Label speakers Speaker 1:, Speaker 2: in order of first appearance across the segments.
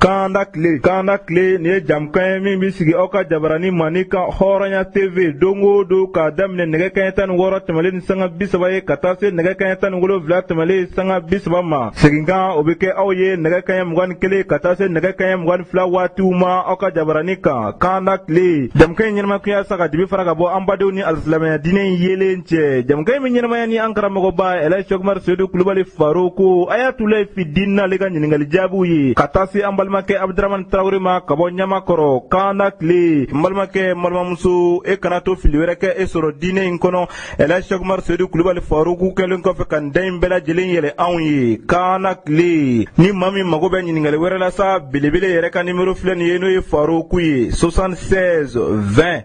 Speaker 1: Kanda tile kanda tile nin ye jamukan ye min bɛ sigi aw ka jabarani mani kan hɔrɔnya tv don o don k'a daminɛ nɛgɛ kaɲɛ tan ni wɔɔrɔ tɛmɛnlen ni sanga bi saba ye ka taa se nɛgɛ kaɲɛ tan ni wolonwula tɛmɛnlen sanga bi saba ma seginkan o bɛ kɛ aw ye nɛgɛ kaɲɛ mugan ni kelen ka taa se nɛgɛ kaɲɛ mugan ni fila waatiw ma aw ka jabarani kan kanda tile jamukan in ɲɛnamaya kun ye sa ka dibi fara ka bɔ an badenw ni alisilamɛya diinɛ in yeelen cɛ jamukan in bɛ ɲɛnamaya ni an karamɔgɔba ɛlɛji sɛku umaru sedu kulubali faroku ayatulayi fidini n'ale ka ɲininkali jaabiw ye ka taa se an balimakɛ abudaramani tarawele ma ka bɔ ɲamakɔrɔ kanda tile n balimakɛ n balimamuso e kana to fili wɛrɛ k'e sɔrɔ diinɛ in kɔnɔ ɛlɛji sɛku umaru sedu kulubali faroku kɛlen kɔfɛ ka nin da in bɛɛ lajɛlen yɛlɛ anw ye kanda tile ni maa min mago bɛ ɲininkali wɛrɛ la sa belebele yɛrɛ ka nimero filɛ nin ye n'o ye faroku ye 76 20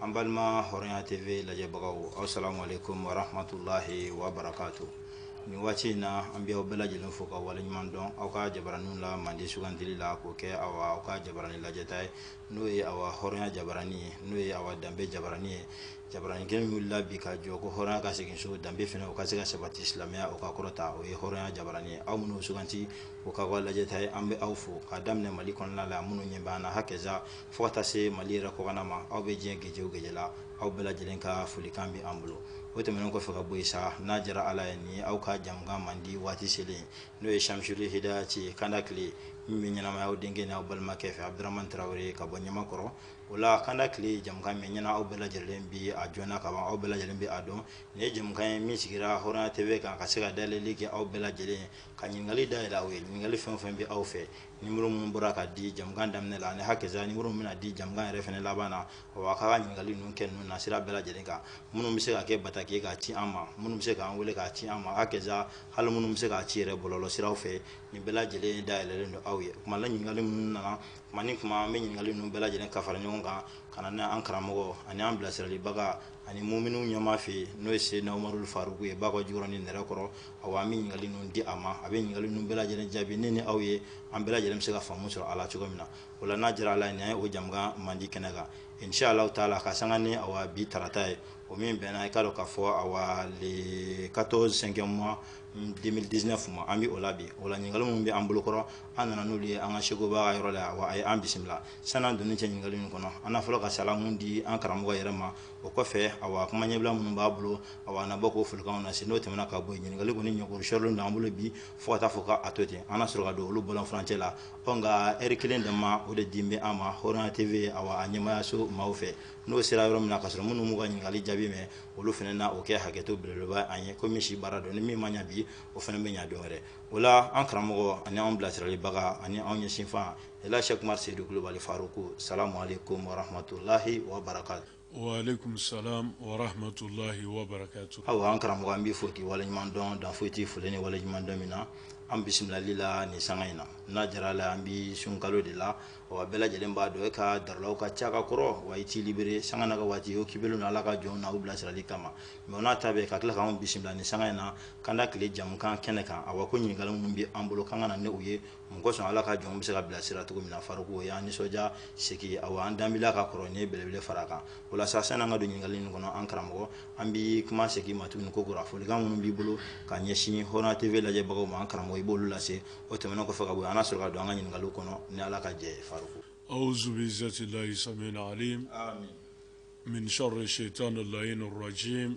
Speaker 2: an balima hɔrɔnya tv lajɛbagaw asalamu aleykum warahmatulahi wabarakatu nin waati in na an bɛ aw bɛɛ lajɛlen fo ka waleɲuman dɔn aw ka jabaraninw la mandi sugandili la k'o kɛ awa aw ka jabarani lajɛta ye n'o ye awa hɔrɔnya jabarani ye n'o ye awa danbe jabarani ye jabarani kelen wulila bi ka jɔ ko hɔrɔnya ka segin so danbe fana o ka se ka sabati silamɛya o ka kɔrɔta o ye hɔrɔnya jabarani ye aw minnu suganti o ka kɛ lajɛta ye an bɛ aw fo ka daminɛ mali kɔnɔna la minnu ɲɛ b'an na hakɛza fo ka taa se mali yɛrɛ kɔkanna ma aw bɛ diɲɛ gɛjɛ o gɛjɛ la aw bɛɛ lajɛlen ka folikan bɛ an bolo o tɛmɛnen kɔfɛ ka bɔ yen sa n'a diyara ala ye ni aw ka jamukan mandi waati selen n'o ye samisuli hidayati kanda tile min bɛ ɲɛnamaya aw denkɛ ni aw balimakɛ fɛ abudurahmani tarawele ka bɔ ɲamakɔrɔ o la kanda tile jamukan min ɲɛna aw bɛɛ lajɛlen bɛ a jɔna ka ban aw bɛɛ lajɛlen bɛ a dɔn nin ye jamukan ye min sigira hɔrɔnya tv kan ka se ka dayɛlɛli kɛ aw bɛɛ lajɛlen ye ka ɲininkali dayɛlɛ aw ye ɲininkali fɛn o fɛn bɛ aw fɛ nimero minnu bɔra ka di jamukan daminɛ la ani hakɛza nimero min bɛna di jamukan yɛrɛ fana laban na o a k'a ka ɲininkali ninnu kɛ ninnu na sira bɛɛ lajɛlen kan minnu bɛ se ka kɛ bataki ye k'a ci an ma minnu bɛ se k'an wele k'a ci an ma hakɛza hali minnu bɛ se k'a ci yɛrɛ bɔlɔlɔ siraw fɛ nin bɛɛ lajɛlen dayɛlɛlen don aw ye kuma la ɲininkali minnu nana kuma ni kuma an bɛ ɲininkali ninnu bɛɛ lajɛlen ka fara ɲɔgɔn kan ka na n'a an karamɔgɔ ani an bilasiralibaga ani muminiw ɲɛmaa fɛ yen n'o ye seyidina umaru faruku ye bakɔ jikɔrɔni nɛrɛkɔrɔ Awa an bɛ ɲininkali ninnu di a ma a bɛ ɲininkali ninnu bɛɛ lajɛlen jaabi ne ni aw ye an bɛɛ lajɛlen bɛ se ka faamu sɔrɔ a la cogo min na o la n'a diyara ala ye nin ye o jamukan mandi kɛnɛ kan inshalla taala ka san ni bi tarata ye o min bɛnna i k'a dɔn k'a fɔ awa le quatorze cinquième mois deux mille dix-neuf ma an bɛ o la bi o la ɲininkali minnu bɛ an bolokɔrɔ an nana n'olu ye an ka sɛkuba yɔrɔ la a ye an bisimila san'an donni cɛ ɲininkali ninnu kɔnɔ an na fɔlɔ ka salamu di an karamɔgɔ yɛrɛ ma o kɔfɛ awa a kuma ɲɛbila minnu b'a bolo awa a na bɔ k'o folikan lase n'o tɛmɛna ka bɔ yen ɲininkali kɔni ɲɛkɔrɔ sɔrɔlen don an bolo bi fo ka taa fɔ k'a to ten an na sɔrɔ ka don olu bɔlɔn furancɛ la awa nka ɛri kelen dama o de dilen bɛ an ma hɔrɔnya tv awa a ɲɛmaayaso maaw fɛ n'o sera yɔrɔ min na ka sɔrɔ minnu m'u ka ɲininkali jaabi mɛn olu fana na o kɛ hakɛto belebeleba an ye komi si baara don ni min ma ɲɛ bi o fana bɛ ɲɛ don wɛrɛ o la an karamɔgɔ ani anw bilasiralibaga ani anw ɲɛsinfan Elhaji Sɛki Umaru Seyidu Kulubali Faruku salamu aleyikomu wa rahamatulahi wa barakatu. Wa
Speaker 3: aleyikomu salamu wa rahamatulahi wa barakatu. Awa an karamɔgɔ an b'i
Speaker 2: fo k'i waleɲuman dɔn dan foyi t'i foli ni waleɲuman dɔn min na an bisimilali la nin sanga in na n'a jara la an bi sunkalo de la wa bɛɛ lajɛlen b'a dɔn e ka darulaw ka ca ka kɔrɔ wa i t'i libere sanga na ka waati y'o kibelen na ala ka jɔnw na u bilasirali kama mɛ o n'a ta bɛɛ ka tila k'anw bisimila nin sanga in na kanda tile jamukan kɛnɛ kan awa ko ɲininkali minnu bɛ an bolo k'an ka na ni u ye mun kosɔn ala ka jɔnw bɛ se ka bilasira cogo min na Faruku o y'an nisɔndiya sigi awa an danbila ka kɔrɔ ye belebele fara a kan o la sa sani an ka don ɲininkali ninnu kɔnɔ an karamɔgɔ an bɛ kuma segin i ma tuguni ko kura folikan minnu b'i bolo ka ɲɛsin Hɔrɔnya TV lajɛbagaw ma an karamɔgɔ i b'olu lase o tɛmɛnen kɔfɛ ka bɔ an na sɔrɔ ka don an ka ɲininkali kɔnɔ ni ala ka jɛ ye Faruku awuzu
Speaker 3: bilayi samiyi alimi mina setani layini rajimi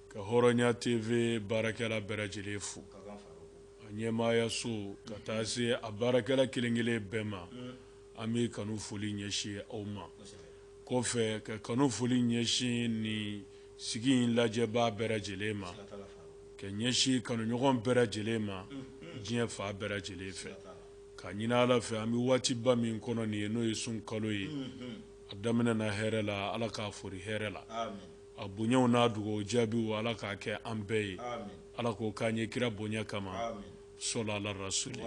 Speaker 3: ka hɔrɔnya tv baarakɛla bɛɛ lajɛlen fo a ɲɛmaaya so ka taa se a baarakɛla kelen kelen bɛɛ ma an bɛ kanu foli ɲɛsin aw ma kɔfɛ ka kanu foli ɲɛsin nin sigi in lajɛbaa bɛɛ lajɛlen ma ka ɲɛsin kanuɲɔgɔn bɛɛ lajɛlen ma diɲɛ fan bɛɛ lajɛlen fɛ k'a ɲini ala fɛ an bɛ waatiba min kɔnɔ nin ye n'o ye sunkalo ye a daminɛna hɛrɛ la ala k'a foori hɛrɛ la A bonyaw n'a dugawu jaabiw Ala k'a kɛ an bɛɛ ye. Aami. Ala k'o k'an ye kira bonya kama. Aami. Sɔli Ala rasuli.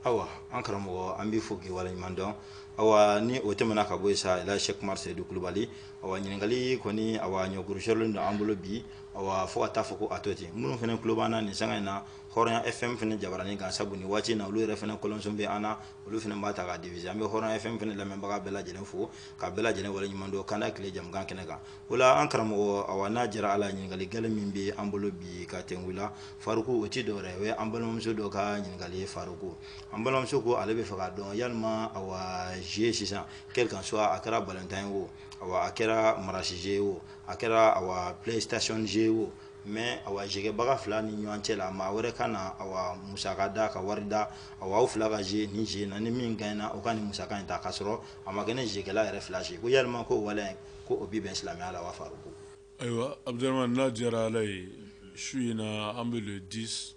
Speaker 3: Awa
Speaker 2: an karamɔgɔ an b'i fo k'i waleɲuman dɔn awa ni o tɛmɛna ka bɔ yen sa Elhaji Sɛki Umaru Seyidu Kulubali awa ɲininkali kɔni awa ɲɔgurusɔrɔlen don an bolo bi awa fo ka taa fɔ ko a to ten minnu fana tulo b'an na nin sanga in na Hɔrɔnya FM fana jabaranin kan sabu nin waati in na olu yɛrɛ fana kɔlɔnson bɛ an na olu fana b'a ta k'a diffuser an bɛ Hɔrɔnya FM fana lamɛnbaga bɛɛ lajɛlen fo ka bɛɛ lajɛlen waleɲuman dɔn kanda tile jamukan kɛnɛ kan o la an karamɔgɔ awa n'a jɛra ala ɲininkali gale min bɛ an bolo bi ka tɛnku la faruku o ti dɔwɛrɛ o ye an balimamuso dɔ ka ɲininkali ye faruku an balimamuso ko ale bɛ fɛ k'a dɔn yalima awa jeu sisan quel qu'en soit a kɛra balontan ye o awa a kɛra marasi jeu ye o a kɛra awa playstation jeu ye o mɛ awa jeu kɛbaga fila ni ɲɔgɔn cɛ la maa wɛrɛ ka na awa musaka da ka wari da awa aw fila ka jouer nin jeu na ni min gaɲɛna o ka nin musaka in ta k'a sɔrɔ a ma kɛ ni jeu kɛla yɛrɛ fila si ko yalima ko waleya in ko o bi bɛn silamɛya la wa Faruku? Ayiwa
Speaker 3: Abudaramani n'a diyara Ala ye su in na an bɛ le 10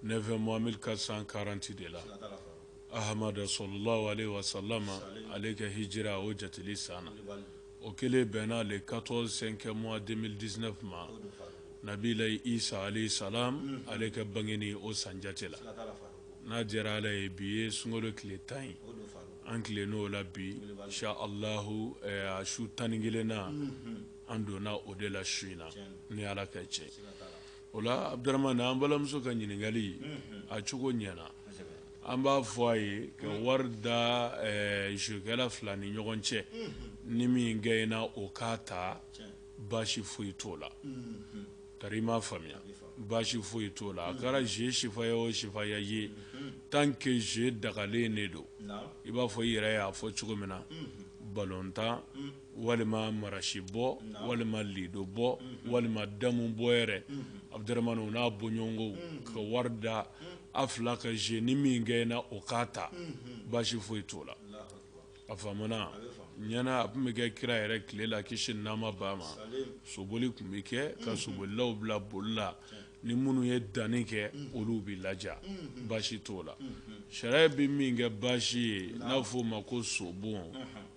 Speaker 3: 9 mois 1440 de la Ahamada sɔlɔlahu alehi wasalama ale ka hijira o jateli san na o kelen bɛnna le 14 5 mois 2019 ma Nabilayi Isa alehi salam ale ka bangeni o san jate la n'a diyara Ala ye bi ye sunkalo tile tan ye an tilenna o la bi insha alahu a su tan ni kelennan an donna o de la su in na ni ala ka cɛ o la abuduramani an balimamuso ka ɲininkali a cogo ɲɛna an b'a fɔ a ye ka wari da zekɛla fila ni ɲɔgɔn cɛ ni min gɛnna o k'a ta baasi foyi t'o la Tari i m'a faamuya baasi foyi t'o la a kɛra jeu sifaya o sifaya ye tant que jeu dagalen de don i b'a fɔ i yɛrɛ y'a fɔ cogo min na balontan walima marasibɔ walima lidobɔ walima damubɔ yɛrɛ Abudramani o n'a bɔɲɔgɔnko ka wari da a fila ka jeu ni min gɛnna o k'a ta baasi foyi t'o la A faamuna ɲɛna a tun bɛ kɛ kira yɛrɛ tile la kisi ni nɛɛma b'a ma soboli tun bɛ kɛ ka sobolilaw bila boli la ni minnu ye danni kɛ olu bɛ ladiya baasi t'o la sariya bɛ min kɛ baasi ye n'a fɔ o ma ko sobon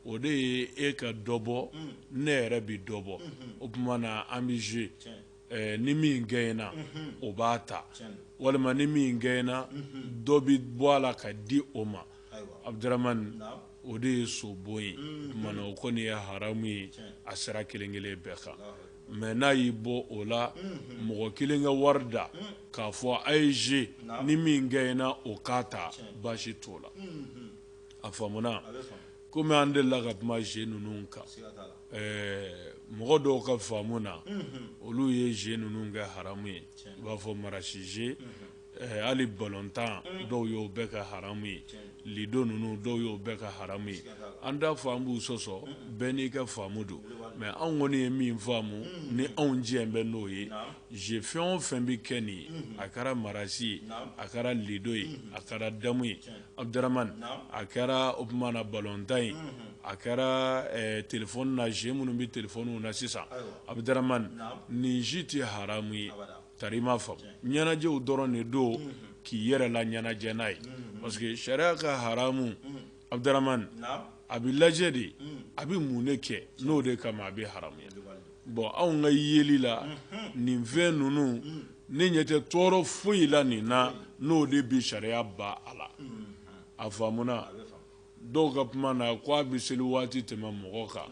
Speaker 3: o de ye e ka dɔ bɔ ne yɛrɛ bɛ dɔ bɔ o tuma na an bɛ z ni min gɛnna o b'a ta walima ni min gɛnna dɔ bɛ bɔ a la ka di o ma abuduramani o de ye sobon ye o tuma na o kɔni ye haramu ye a sira kelen kelen bɛɛ kan mɛ n'a y'i bɔ o la mɔgɔ kelen ka wari da k'a fɔ a ye ze ni min gɛnna o k'a ta baasi t'o la a faamuna komi an delila ka kuma ze ninnu kan mɔgɔ dɔw ka faamu na olu ye ze ninnu kɛ haramu ye i b'a fɔ marasi ze hali balontan dɔw y'o bɛɛ kɛ haramu ye lido ninnu dɔw y'o bɛɛ kɛ haramu ye an t'a fɔ an b'u sɔsɔ bɛɛ n'i ka faamu don mɛ anw kɔni ye min faamu ni anw diɲɛ bɛ n'o ye ze fɛn o fɛn bɛ kɛ nin ye a kɛra marasi ye a kɛra lido ye a kɛra damu ye Abudurahimani, naamu, a kɛra o tuma na balontan ye, unhun, a kɛra ɛ telephone na jeux minnu bɛ telephone na sisan, ayiwa, Abudurahimani, naamu, nin si tɛ haramu ye, abada, tari i m'a faamu, tiɲɛ, ɲɛnajɛw dɔrɔn de don, unhun, k'i yɛrɛ laɲɛnajɛ n'a ye, unhun, parce que sariya ka haramu, unhun, Abudurahimani, naamu a bɛ lajɛ de a bɛ mun de kɛ n'o de kama a bɛ haramu bɔn anw ka yeli la nin fɛn ninnu ne ɲɛ tɛ tɔɔrɔ foyi la nin na n'o de bɛ sariya bɔ a la a faamuna dɔw ka kuma na ko a bɛ seli waati tɛmɛ mɔgɔ kan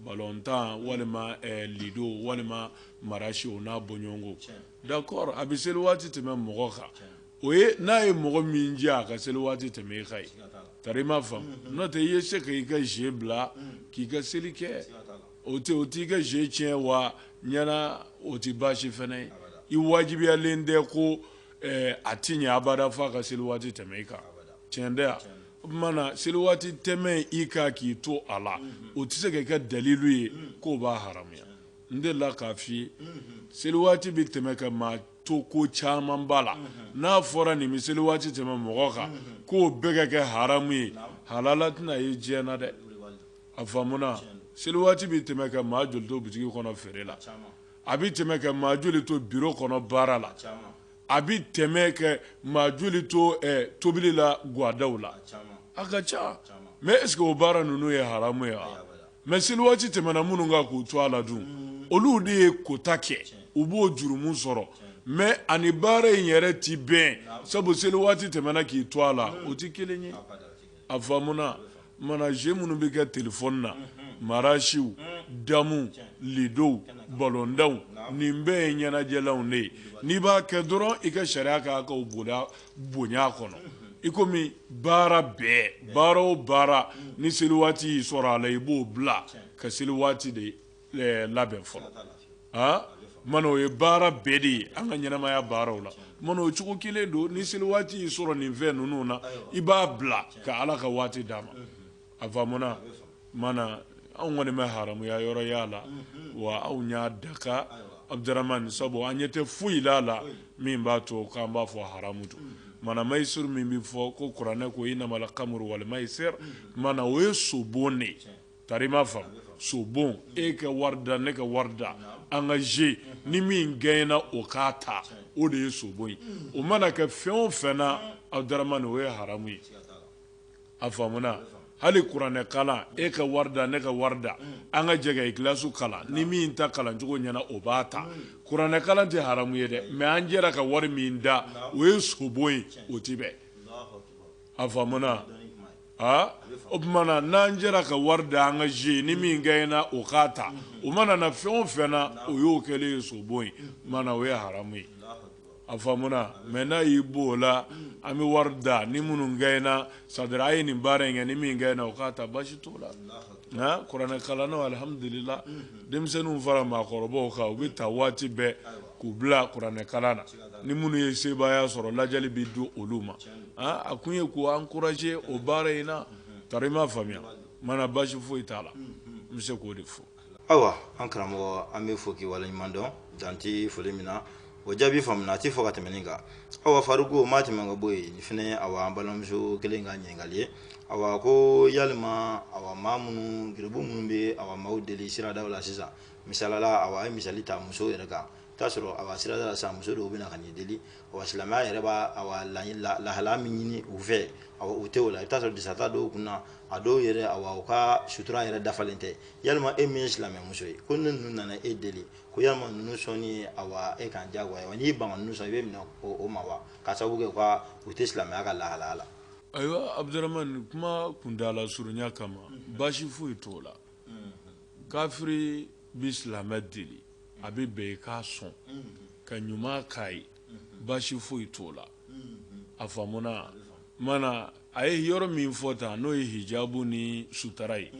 Speaker 3: balontan walima lido walima marasi o n'a bɔɲɔgɔnko d'accord a bɛ seli waati tɛmɛ mɔgɔ kan o ye n'a ye mɔgɔ min jɛ a ka seli waati tɛmɛ e ka ye tari i m'a faamu n'o tɛ i ye se ka i ka je bila k'i ka seli kɛ o tɛ o t'i ka je tiɲɛ wa ɲɛna o tɛ baasi fana ye i wajibiyalen tɛ ko eh, a ti ɲɛ abada fo a ka seli waati tɛmɛ i kan tiɲɛ tɛ yan o tuma na seli waati tɛmɛ i kan k'i to a la o tɛ se ka kɛ dalilu ye k'o b'a haramuya n delila k'a f'i ye seli waati bɛ tɛmɛ ka maa to ko caman b'a la n'a fɔra nin bɛ seli waati tɛmɛ mɔgɔ kan k'o bɛɛ ka kɛ haramu ye halala tɛna ye diɲɛ na dɛ a faamuna seli waati bɛ tɛmɛ ka maa joli to bitigi kɔnɔ feere la a bɛ tɛmɛ ka maa joli to biro kɔnɔ baara la a bɛ tɛmɛ ka maa joli to eh, tobili la gwadaw la a ka ca mɛ est ce que o baara ninnu ye haramu ye wa Mɛ seli waati tɛmɛna minnu kan k'u to a la dun olu de ye kota kɛ u b'o jurumu sɔrɔ mɛ ani baara in yɛrɛ tɛ bɛn sabu seli waati tɛmɛna k'i to a la o tɛ kelen ye a faamuna mana ze minnu bɛ kɛ telefɔni na marasiw damu lidow balontanw nin bɛɛ ye ɲɛnajɛlanw de ye n'i b'a kɛ dɔrɔn i ka sariya k'a ka bonya kɔnɔ i komi baara bɛɛ baara o baara ni seli waati y'i sɔrɔ a la i b'o bila ka seli waati de eh, labɛn fɔlɔ ah? mana o ye baara bɛɛ de ye an ka ɲɛnamaya baaraw la mana o cogo kelen don ni seli waati y'i sɔrɔ nin fɛn ninnu na i b'a bila ka ala ka waati d'a ma a faamuna mana anw kɔni ma haramuya yɔrɔ y'a la wa anw y'a daga abudurahmani sabu an ɲɛ tɛ foyi la a la min b'a to k'an b'a fɔ haramu don mana mayisiru min bɛ fɔ ko kuranɛ ko inamal kamuru wali mayisiru mana o ye sobon de ye tari ma faamu sobon e ka wari da ne ka wari da an ka ze ni min gaɲɛna o k'a ta o de ye sobon ye o mana kɛ fɛn o fɛn na abudurahmani o ye haramu ye a faamuna hali kuranɛ kalan e ka wari da ne ka wari da an ka jɛ ka ikilasi kalan ni min ta kalan cogo ɲɛna o b'a ta kuranɛ kalan tɛ haramu ye dɛ mɛ an jɛra ka wari min da o ye sobon ye o ti bɛn a faamuna aa o tuma na n'an jɛra ka wari da an ka ze ni min gaɲɛna o k'a ta o mana na fɛn o fɛn na o y'o kɛlen ye sobon ye mana o ye haramu ye a faamuna mɛ n'a y'i bɔ o la an bɛ wari da ni minnu gaɲɛna c'est à dire a ye nin baara in kɛ ni min gaɲɛna o k'a ta basi t'o la nka kuranɛkalannaw alihamudulila denmisɛnninw fara maakɔrɔbaw kan u bɛ ta waati bɛɛ k'u bila kuranɛkalan na ni minnu ye sebaaya sɔrɔ ladiyali bɛ di olu ma a kun ye k'u ankuraje o baara in na tari ma faamuya mana basi foyi t'a la n bɛ se k'o de fɔ ayiwa an
Speaker 2: karamɔgɔ an b'i fo k'i waleɲuman dɔn dan tɛ foli min na o jaabi faamuna a tɛ fɔ ka tɛmɛ nin kan awa faruku maa tɛmɛ ka bɔ yen nin fana ye awa an balimamuso kelen ka ɲininkali ye awa ko yalima awa maa minnu garibu minnu bɛ awa maaw deli siradaw la sisan misali la awa a ye misali ta musow yɛrɛ kan i bɛ t'a sɔrɔ awa sirada la sisan muso dɔw bɛ na ka n'i deli wa silamɛya yɛrɛ b'a awa lahi- la- lahalaya min ɲini u fɛ awa u tɛ o la i bɛ t'a sɔrɔ disa tɛ dɔw kun na a dɔw yɛrɛ awa u ka sutura yɛrɛ dafalen tɛ yalima e min ye silamɛmuso ye ko ni ninnu nana e deli ko yalima ninnu sɔnni ye awa e kan diyagoya wa n'i ban ka ninnu sɔn i bɛ minɛ o o ma wa ka sababu kɛ u ka u tɛ silamɛya ka lahalaya la ayiwa
Speaker 3: abudurahmani kuma kuntaala surunya kama baasi foyi t'o la kafiri bi silamɛ deli a bɛ bɛn i k'a sɔn ka ɲuman k'a ye baasi foyi t'o la a faamuna mana a ye yɔrɔ min fɔ tan n'o ye hijabu ni sutara ye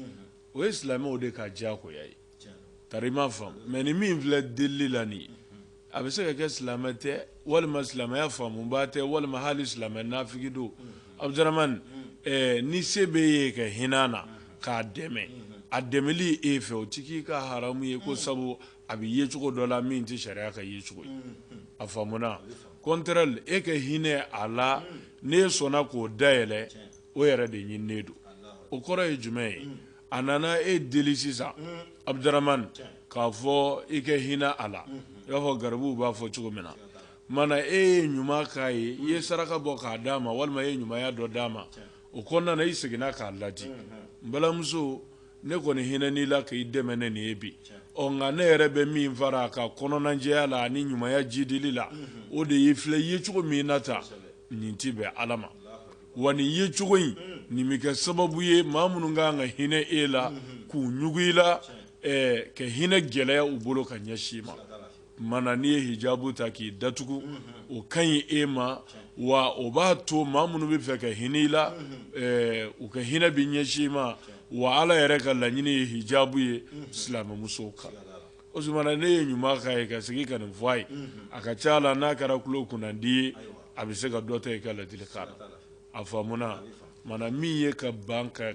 Speaker 3: o ye silamɛw de ka diyagoya ye tari i m'a faamu mais nin min filɛ delili la nin ye a bɛ se ka kɛ silamɛ tɛ walima silamɛya faamubaa tɛ walima hali silamɛ nafigi don Abuduramani ni se b'e ye ka hinɛ na k'a dɛmɛ a dɛmɛli e fɛ o tɛ k'i ka haramu ye ko sabu a bɛ ye cogo dɔ la min tɛ sariya ka ye cogo ye a faamuna contraire e ka hinɛ a la n'e sɔnna k'o dayɛlɛ o yɛrɛ de ɲininen don o kɔrɔ ye jumɛn ye a nana e deli sisan abuduramani k'a fɔ e ka hinɛ a la i b'a fɔ garibuw b'a fɔ cogo min na Mana e ye ɲuman k'a ye i ye saraka bɔ k'a d'a ma walima i ye ɲumanya dɔ d'a ma o kɔnɔna na i seginna k'a ladi n balimamuso ne kɔni hinɛn'i la k'i dɛmɛ ni nin ye bi ɔ nka ne yɛrɛ bɛ min fara a ka kɔnɔnajɛya la ani ɲumanya jidili la o de y'i filɛ ye cogo min na tan nin tɛ bɛn ala ma wa nin ye cogo in nin bɛ kɛ sababu ye maa minnu ka kan ka hinɛ e la k'u ɲugu i la ka hinɛ gɛlɛya u bolo ka ɲɛsin i ma mana n'i ye hijabu ta k'i datugu o ka ɲi e ma wa o b'a to maa minnu bɛ fɛ ka hinɛ i la u ka hinɛ bɛ ɲɛsin i ma wa ala yɛrɛ ka laɲini ye hijabu ye silamɛmuso kan o tuma na n'e ye ɲuman k'a ye ka segin ka nin fɔ a ye a ka ca la n'a kɛra tulo kunnandi ye a bɛ se ka dɔ ta i ka ladilikan na a faamuna mana min ye ka ban ka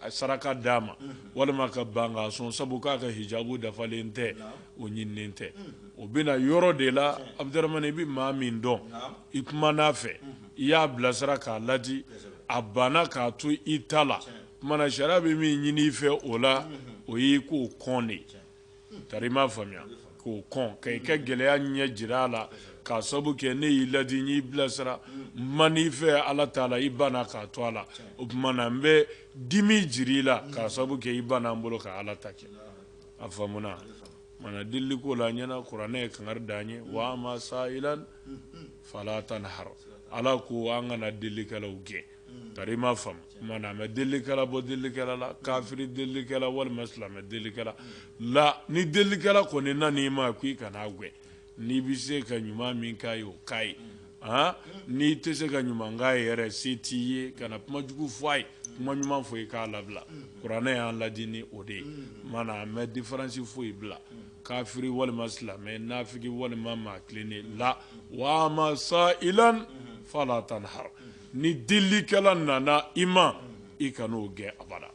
Speaker 3: saraka d'a ma walima ka ban k'a sɔn sabu k'a ka hijabu dafalen tɛ o ɲininen tɛ o bɛ na yɔrɔ de la abuduramani i bɛ maa min dɔn i kuman'a fɛ i y'a bilasira k'a ladi a banna k'a to i ta la kumana sariya bɛ min ɲini i fɛ o la o y'i k'o kɔn de ye Tari i m'a faamuya k'o kɔn ka i ka gɛlɛya ɲɛ jira a la k'a sabu kɛ ne y'i ladi y'i bilasira min fɛ ala t'a la i banna k'a to a la o tuma na n bɛ dimi jiri i la k'a sabu kɛ i banna n bolo ka ala ta kɛ a faamuna mana deli ko la ɲɛna kuranɛ ye kangari da an ye wa amma sa'ila fala tanhar ala ko an kana delikɛlaw gɛn Tari i m'a faamu mana mɛ delikɛla bɔ delikɛla la kafiri delikɛla walima silamɛ delikɛla la ni delikɛla kɔni nana i ma ko i kana a gɛn n'i bɛ se ka ɲuman min k'a ye o k'a ye aa n'i tɛ se ka ɲuman k'a ye yɛrɛ se t'i ye kana kuma jugu fɔ a ye kuma ɲuman fɔ i k'a labila kuranɛ y'an ladi ni o de ye mana mɛ difaransi foyi bila kafiri walima silamɛ nafigi walima maa tilennen la wa amma sa'ila fala tanhar ni delikɛla nana i ma i kana o gɛn abada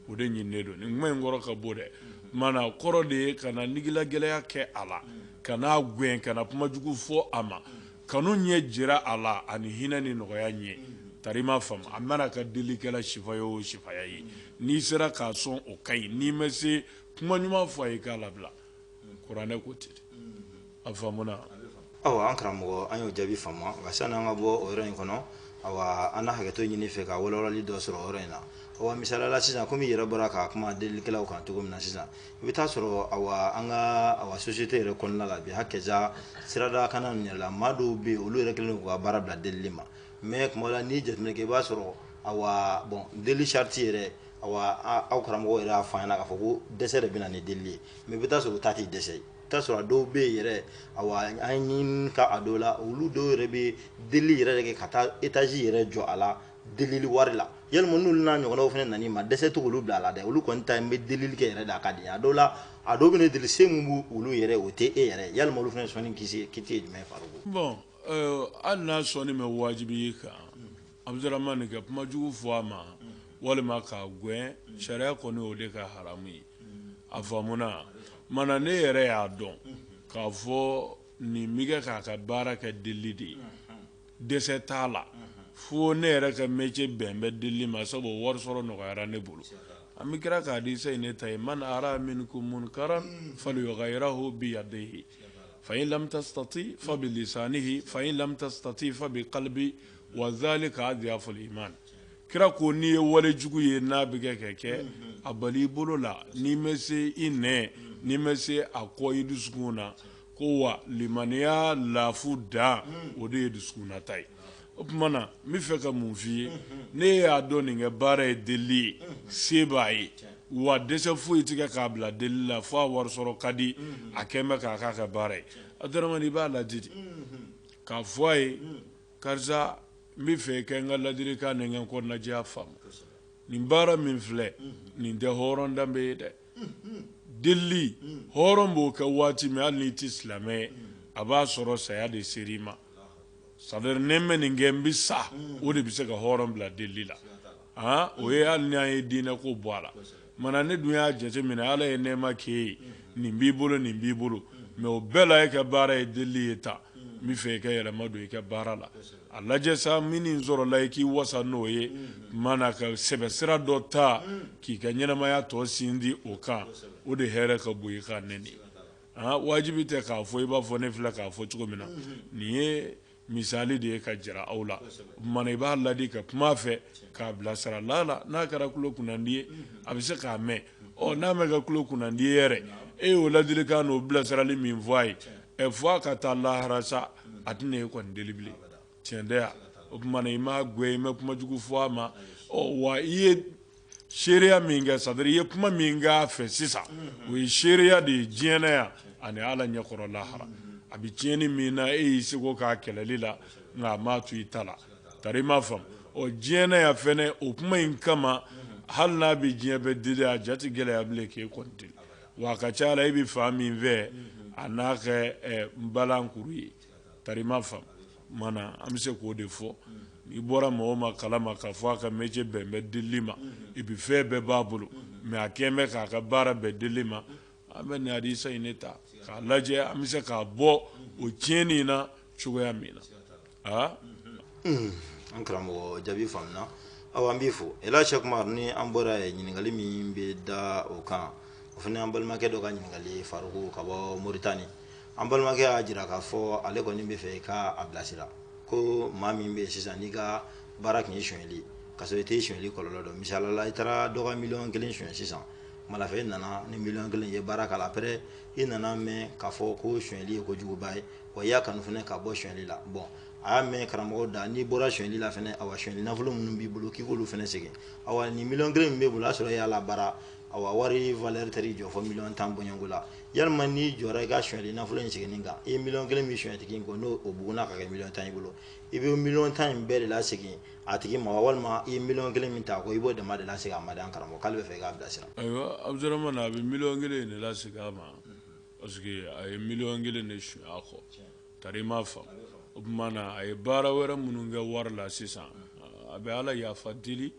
Speaker 3: o de ɲininen don nin kuma in kɔrɔ ka bon dɛ mana kɔrɔ de ye kana nigilagɛlɛya kɛ a la kana gɛn kana kuma jugu fɔ a ma kanu ɲɛ jira a la ani hinɛ ni nɔgɔya ye tari i m'a faamu a mana kɛ delikɛla sifaya o sifaya ye n'i sera k'a sɔn o ka ɲi n'i ma se kuma ɲuman fɔ a ye k'a labila kuranɛ ko ten a faamuna awa
Speaker 2: an karamɔgɔ an y'o jaabi faamu nka sani an ka bɔ o yɔrɔ in kɔnɔ awa an na hakɛto ɲini i fɛ ka walawalali dɔ sɔrɔ o yɔrɔ in na awa misaliyala sisan komi i yɛrɛ bɔra ka kuma delilikɛlaw kan cogo min na sisan i bɛ t'a sɔrɔ awa an ka awa sosiyete yɛrɛ kɔnɔna la bi hakɛja sirada kana ninnu yɛrɛ la maa dɔw bɛ yen olu yɛrɛ kɛlen don k'u ka baara bila delili ma mɛ kuma dɔ la n'i ye jateminɛ kɛ i b'a sɔrɔ awa bon deli sarati yɛrɛ aw karamɔgɔ yɛrɛ y'a fɔ k'a fɔ ko dɛsɛ de bɛ na ni deli ye mɛ i bɛ t'a sɔrɔ o ta tɛ dɛsɛ ye i bɛ t'a sɔrɔ a dɔw bɛ yen yɛrɛ an ka a dɔw la olu dɔw yɛrɛ bɛ deli yɛrɛ de kɛ ka taa etazi yɛrɛ jɔ a la deli wari la yalima n'u n'a ɲɔgɔnw fana nan'i ma dɛsɛ tɛ olu bila a la dɛ olu kɔni ta ye n bɛ deli kɛ yɛrɛ de a ka di a dɔw la a dɔw bɛ deli se min b'olu yɛrɛ o tɛ e yɛrɛ yalima olu fana sɔnni kiti ye jumɛn
Speaker 3: faruku hali n'a sɔnni ma wajibiya i kan Abdurahmane ka kuma jugu fɔ a ma walima k'a gɛn sariya kɔni o de ka haramu ye a faamuna mana ne yɛrɛ y'a dɔn k'a fɔ nin bɛ kɛ k'a ka baara kɛ deli de ye dɛsɛ t'a la fo ne yɛrɛ ka mɛcɛ bɛn bɛ deli ma sabu wari sɔrɔ nɔgɔyara ne bolo an bɛ kira ka hadisa nin ta yen man ra'a minkum munkaran falyughayyirhu biyadihi fa in lam tastati fa bilisanihi fa in lam tastati fa bikalbihi wa zalika adiyafuli iman kira ko n'i ye wale jugu ye n'a bɛ kɛ kɛ kɛ a bali i bolo la n'i ma se i nɛn n'i ma se a kɔn i dusukun na ko wa limaniya lafu dan o de ye dusukunna ta ye o tuma na n bɛ fɛ ka mun f'i ye ne y'a dɔn nin kɛ baara ye delili ye se b'a ye wa dɛsɛ foyi tɛ kɛ k'a bila delili la fo a wari sɔrɔ ka di a kɛn bɛ k'a k'a ka baara ye Abudramani i b'a laadi de k'a fɔ a ye karisa n bɛ fɛ kɛ n ka ladilikan ni n ka kɔnɔnajɛya faamu nin baara min filɛ nin tɛ hɔrɔn danbe ye dɛ delili hɔrɔn b'o kɛ waati min hali n'i tɛ silamɛ ye a b'a sɔrɔ saya de sera i ma c'est-à-dire ne ma nin kɛ n bɛ sa o de bɛ se ka hɔrɔn bila delili la Aa o ye hali ni an ye diinɛ ko bɔ a la mana ne dun y'a jateminɛ ala ye nɛɛma k'e ye nin b'i bolo nin b'i bolo mais o bɛɛ la e ka baara ye deli ye tan n bɛ fɛ i ka yɛlɛma don i ka baara la a lajɛ sa min sɔrɔla i k'i wasa n'o ye mana ka sɛbɛsira dɔ ta k'i ka ɲɛnamaya tɔ sinsin o kan o de hɛrɛ ka bon i kan wajibi tɛ k'a fɔ i b'a fɔ ne filɛ k'a fɔ cogo min na nin ye Misali de ye ka jira aw la mana i b'a ladi ka kuma fɛ k'a bilasira lala n'a kɛra tulo kunnadi ye a bɛ se k'a mɛn ɔ n'a ma kɛ tulo kunnadi ye yɛrɛ e y'o ladilikan n'o bilasirali min fɔ a ye ɛ fo a ka taa lahara sa a tɛna e kɔni deli bilen cɛn tɛ yan o tuma na i m'a gɛn i ma kuma jugu fɔ a ma wa i ye seereya min kɛ c'est-à-dire i ye kuma min k'a fɛ sisan o ye seereya de ye diɲɛ na yan ani ala ɲɛkɔrɔ lahara a bɛ tiɲɛni min na e y'i seko k'a kɛlɛli la nka a m'a to i ta la tari i m'a faamu ɔ diɲɛ na yan fɛnɛ o kuma in kama hali n'a bɛ diɲɛ bɛɛ deli a ja tɛ gɛlɛya bilen k'e kɔni deli wa a ka ca la e bɛ fan min fɛ a n'a kɛ eh, n balankuru ye tari i m'a faamu mana an bɛ se k'o de fɔ i bɔra mɔgɔ min kalama k'a fɔ a ka métier bɛn bɛ deli ma et puis fɛn bɛɛ b'a bolo mais a kɛlen bɛ k'a ka baara bɛn deli ma an bɛ nin hadisa in ne ta k'a lajɛ an bɛ se k'a bɔ o tiɲɛni in na cogoya min na
Speaker 2: aa an karamɔgɔ jaabi faamuna aw an b'i fo Ela Sɛk Umaru ni an bɔra yen ɲininkali min bɛ da o kan o fana an balimakɛ dɔ ka ɲininkali ye Faruku ka bɔ moritani an balimakɛ y'a jira k'a fɔ ale kɔni bɛ fɛ i ka a bilasira ko maa min bɛ yen sisan n'i ka baara tun ye sonyali ka sɔrɔ i tɛ sonyali kɔlɔlɔ dɔn misali la i taara dɔ ka miliyɔn kelen sonyɛ sisan malafɛ i nana ni miliyɔn kelen ye baara k'a la après i nan'a mɛn k'a fɔ ko sonyali ye kojuguba ye wa i y'a kanu fana ka bɔ sonyali la bon a y'a mɛn karamɔgɔ da n'i bɔra sonyali la fana awa sonyali nafolo minnu b'i bolo k'i k'olu fana segin awa ni miliyɔn kelen min b'e bolo a sɔrɔ e y'a labaara awa wari valeur taar'i jɔ fo miliyɔn tan bɔɲɔnko la yalima n'i jɔra i ka sonyali nafolo in seginni kan i ye miliyɔn kelen min sonyɛ tigi in kɔ n'o bugunna ka kɛ miliyɔn tan i bolo i bɛ miliyɔn tan in bɛɛ de lasegin a tigi ma walima i ye miliyɔn kelen min ta ko i b'o dama de lasegin a ma de an karamɔgɔ k'ale bɛ fɛ i k'a bilasira. ayiwa abudurahmani
Speaker 3: a bɛ miliyɔn kelen in de lasegin a ma parce que a ye miliyɔn kelen de sunyɛ a kɔ. Tari i m'a faamu, o tuma na a ye baara wɛrɛ minnu kɛ wari la sisan a bɛ Ala yafa deli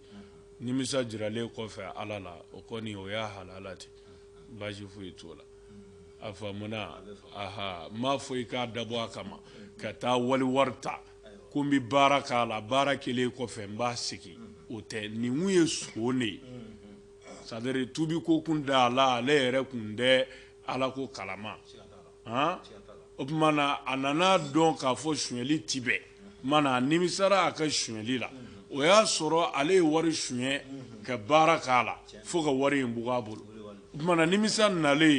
Speaker 3: nimisa jiralen kɔfɛ Ala la o kɔni o y'a halala ten baasi foyi t'o la, a faamuna, ahaa, n m'a fɔ i k'a dabɔ a kama ka taa wali wari ta ko n bɛ baara k'a la baara kɛlen kɔfɛ n b'a segin o tɛ nin kun ye son de ye c'est à dire tuubiko kun t'a la ale yɛrɛ kun tɛ Ala ko kalama o tuma na a nan'a dɔn k'a fɔ suɲɛli tɛ bɛn mana a nimisara a ka suɲɛli la o y'a sɔrɔ ale ye wari suɲɛ ka baara k'a la fo ka wari in bugun a bolo o tuma na nimisa nalen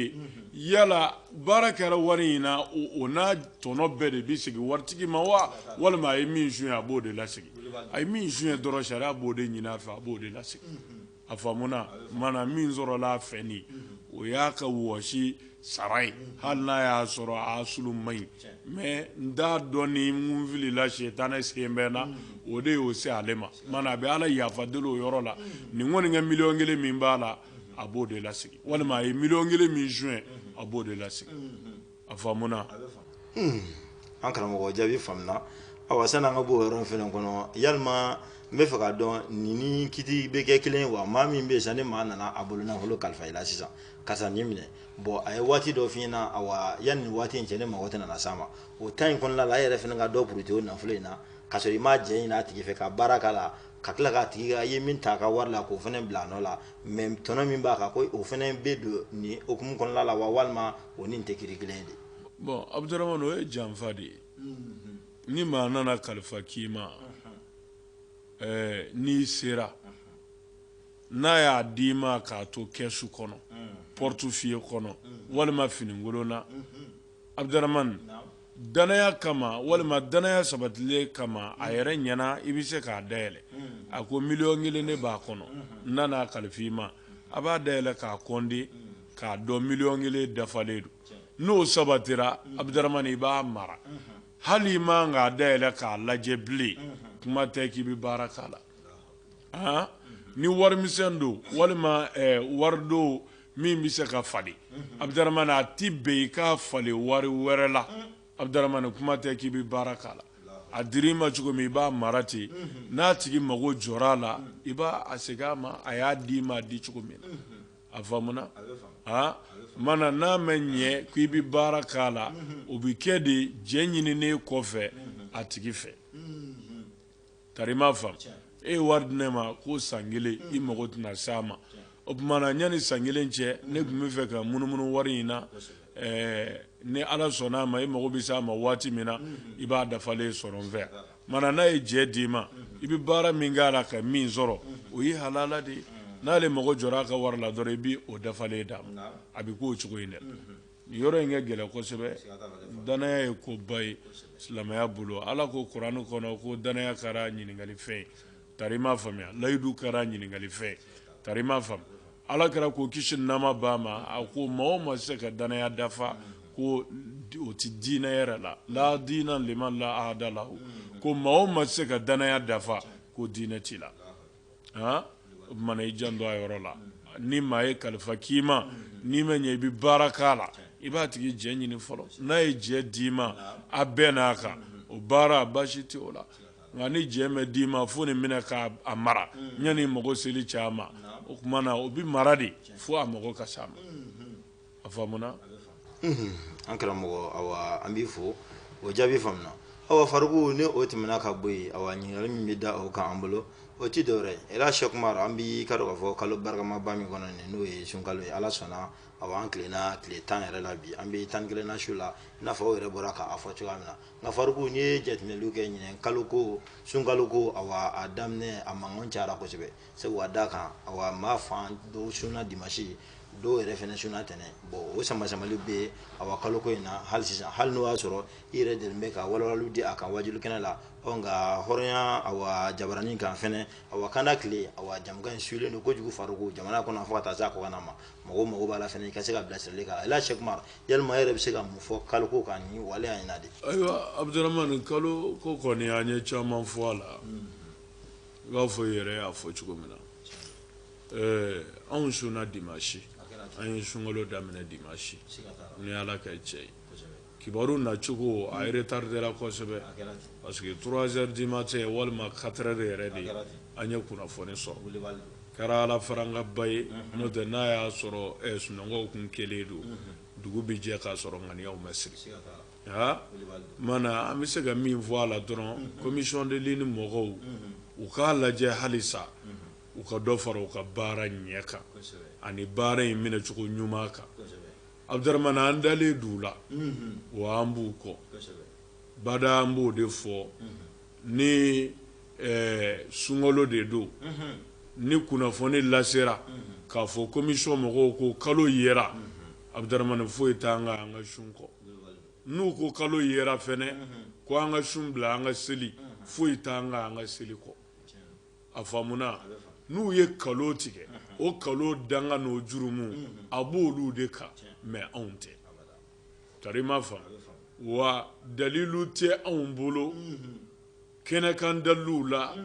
Speaker 3: ye yala baara kɛra wari in na o n'a tɔnɔ bɛɛ de bɛ segin waritigi ma wa walima a ye min suɲɛ a b'o de lasegin a ye min suɲɛ dɔrɔn sariya b'o de ɲini a fɛ a b'o de lasegin a faamuna mana min sɔrɔla a fɛ nin o y'a ka wɔsi sara ye hali n'a y'a sɔrɔ a asulu man ɲi mais n t'a dɔn ni n filila sitanɛ sen bɛ na o de y'o se ale ma mana a bɛ ala yafa deli o yɔrɔ la nin kɔni kɛ miliyɔn kelen min b'a la a b'o de lasegin walima a ye miliyɔn kelen min suɲɛ a b'o de lasegin a
Speaker 2: faamuna an karamɔgɔ jaabi faamuna awa sani an ka bɔ o yɔrɔ in fana kɔnɔ yalima n bɛ fɛ k'a dɔn nin ni kiti bɛ kɛ kelen ye wa maa min bɛ yen sisan ni maa nana a bolo nafolo kalifa i la sisan karisa nin minɛ bon a ye waati dɔ f'i ɲɛna awa yanni waati in cɛ ne mago tɛna nana s'a ma o temps in kɔnɔna la e yɛrɛ fana ka dɔ puruti o nafolo in na ka sɔrɔ i ma jɛn ɲini a tigi fɛ ka baara k'a la ka tila k'a tigi i ye min ta a ka wari la k'o fana bila a nɔ la mais tɔnɔ min b'a kan ko o fana bɛ don nin hukumu kɔnɔna la wa walima o ni nin tɛ kiri kelen de bon abuduramani
Speaker 3: o ye janfa de ye ni maa nana kalifa k'i ma ɛɛ n'i sera n'a y'a d'i ma k'a to kɛsu kɔnɔ portefeuille kɔnɔ walima finikolon na abuduramani danaya kama walima danaya sabatilen kama a yɛrɛ ɲɛna i bɛ se k'a dayɛlɛ a ko miliyɔn kelen de b'a kɔnɔ n nan'a kalifa i ma a b'a dayɛlɛ k'a kɔnde k'a dɔn miliyɔn kelen dafalen don n'o sabatira abudaramani i b'a mara hali i man k'a dayɛlɛ k'a lajɛ bilen kuma tɛ k'i bɛ baara k'a la han ni warimisɛn don walima eh, wari don min bɛ se ka falen abudaramani a ti bɛn i k'a falen wari wɛrɛ la abudaramani kuma tɛ k'i bɛ baara k'a la a dir'i ma cogo min i b'a mara ten n'a tigi mago jɔra a la i b'a segin a ma a y'a d'i ma a di cogo min na a faamuna aa mana n'a mɛ ɲɛ ko i bɛ baara k'a la o bɛ kɛ de jɛ ɲininen kɔfɛ a tigi fɛ tari i m'a faamu e ye wari di ne ma ko san kelen i mago tɛna s'a ma o tuma na yanni san kelen cɛ ne tun bɛ fɛ ka munumunu wari in na Ɛɛ ni ala sɔnna a ma i mago bɛ se a ma waati min na i b'a dafalen sɔrɔ n fɛ yan mana n'a ye jɛ d'i ma i bɛ baara min k'a la ka min sɔrɔ o ye halala de ye n'ale mago jɔra a ka wari la dɔrɔn i b'o dafalen d'a ma a bɛ k'o cogo in dɛ nin yɔrɔ in ka gɛlɛn kosɛbɛ danaya ye koba ye silamɛya bolo ala ko kuran kɔnɔ ko danaya kɛra ɲininkali fɛn ye tari i m'a faamuya layidu kɛra ɲininkali fɛn ye tari i m'a faamu ala kira ko kisi ni nɛɛma b'a ma a ko maa o ma se ka danaya dafa ko o ti diinɛ yɛrɛ la la diina liman la ahada lahu ko maa o ma se ka danaya dafa ko diinɛ t'i la han o tuma na i janto a yɔrɔ la ni maa ye kalifa k'i ma n'i ma ɲɛ i bɛ baara k'a la i b'a tigi jɛ ɲini fɔlɔ n'a ye jɛ d'i ma a bɛnna a kan o baara baasi tɛ o la nka ni jɛ ma d'i ma fo nin minɛ k'a mara yanni mago seli cɛ a ma o tuma na o bɛ mara de fo a mago ka s'a ma a faamuna an
Speaker 2: karamɔgɔ awa an b'i fo o jaabi faamuna awa fariku ni o tɛmɛna ka bɔ yen awa ɲininkali min bɛ da o kan an bolo o tɛ dɔwɛrɛ ye ela sɛki umaru an bɛɛ k'a dɔn k'a fɔ kalo barikamaba min kɔnɔ nin n'o ye sunkalo ye ala sɔnna awa an tilenna tile tan yɛrɛ la bi an bɛ tan ni kelennan su la i n'a fɔ aw yɛrɛ bɔra k'a fɔ cogoya min na Nka fariku n'i ye jateminɛli kɛ ɲinɛ kalo ko sunkalo ko awa a daminɛ a mankan cayara kosɛbɛ sabu ka d'a kan awa maa fan dɔw sunna dimanche dɔw yɛrɛ fana sunna tɛnɛn bon o sama-samali bɛ yen awa kalo ko in na hali sisan hali n'o y'a sɔrɔ i yɛrɛ delilen bɛ ka walawalaliw di a kan waajuli kɛnɛ la ɔ nka hɔrɔnya awa jabaranin kan fana awa kanda tile awa jɛmukan in suyelen don kojugu fariku jamana kɔnɔ fo ka taa se a kɔkanna ma mɔgɔ mago b'a la fana i ka se ka bilasirali k'a la Ela Sɛki Umaru yalima e yɛrɛ bɛ se ka mun fɔ kalo ko kan ni waleya in na de. ayiwa Abudaramani
Speaker 3: kalo ko kɔni an ye caman fɔ a la i b'a fɔ i yɛrɛ y'a fɔ cogo min na ɛɛ anw sunna dimansi an ye sunkalo daminɛ dimansi ni Ala ka cɛ ye. kibaru nacogo a retardera kosɛbɛ parce que trois heures du matin walima quatre heures de yɛrɛ de an ye kunnafoni sɔrɔ kɛra ala farangaba ye n'o tɛ n'a y'a sɔrɔ sunɔgɔ tun kɛlen don dugu bɛ jɛ k'a sɔrɔ ŋaniya ma siri mana an bɛ se ka min fɔ a la dɔrɔn commission de lune mɔgɔw u k'a lajɛ halisa u ka dɔ fara u ka baara ɲɛ kan ani baara in minɛcogo ɲuman kan Abudurahman an dalen don u la, unhun, wa an b'u kɔ, kosɛbɛ, bada an b'o de fɔ, unhun, ni ɛɛ sunkalo de don, unhun, ni kunnafoni lasera, unhun, k'a fɔ commission mɔgɔw ko kalo yera, unhun, Abudurahman foyi t'an kan an ka sun kɔ, n'u ko kalo yera fana, unhun, ko an ka sun bila an ka seli, unhun, foyi t'an kan an ka seli kɔ. a faamuna n'u ye nkalon tigɛ o nkalon danga n'o jurumu a b'olu de kan mais anw tɛ tari i ma faamu wa dalilu tɛ anw bolo kɛnɛkan daliluw la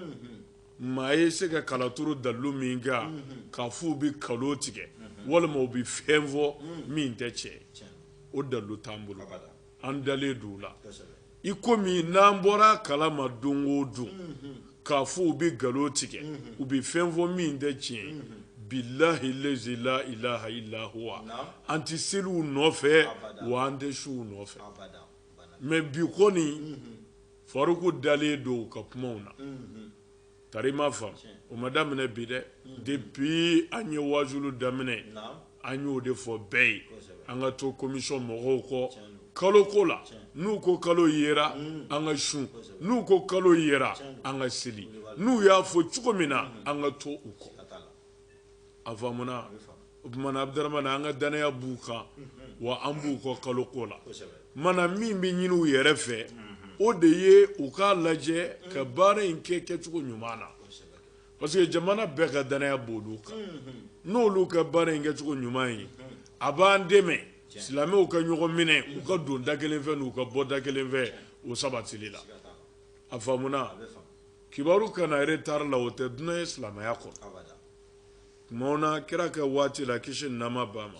Speaker 3: maa ye se ka kalaturu dalilu min kan k'a fɔ u bɛ nkalon tigɛ walima u bɛ fɛn fɔ min tɛ tiɲɛ o dalilu t'an bolo an dalen don u la i komi n'an bɔra a kalama don o don mhm. k'a fɔ u bɛ nkalon tigɛ mhm. u bɛ fɛn fɔ min tɛ tiɲɛ mhm. billahi lazi la ilaha illa huwa an tɛ seli u nɔfɛ wa an tɛ sun u nɔfɛ mais bi kɔni faruku dalen don u ka kumaw na tari i ma faamu o ma daminɛ bi dɛ depuis an ye wajulu daminɛ an y'o de fɔ bɛɛ ye an ka to commission mɔgɔw kɔ kalo ko la n'u ko kalo yera mm. an ka sun n'u ko kalo yera an ka seli n'u y'a fɔ cogo min na mm. an ka to u kɔ a faamuna o tuma na abudurahmani an ka dannaya b'u kan wa an b'u kɔ kalo ko la mana min bɛ ɲini u yɛrɛ fɛ o de ye u k'a lajɛ ka baara in kɛ kɛcogo ɲuman na parce que jamana bɛɛ ka dannaya b'olu kan n'olu ka baara in kɛcogo ɲuman ye a b'an dɛmɛ silamɛw ka ɲɔgɔn minɛ u ka don da kelen fɛ n'u ka bɔ da kelen fɛ o sabatili la a faamuna kibaru ka na retard la o tɛ dunan ye silamɛya kɔnɔ tumaw na kira ka waati la kisi ni nɛɛma b'a ma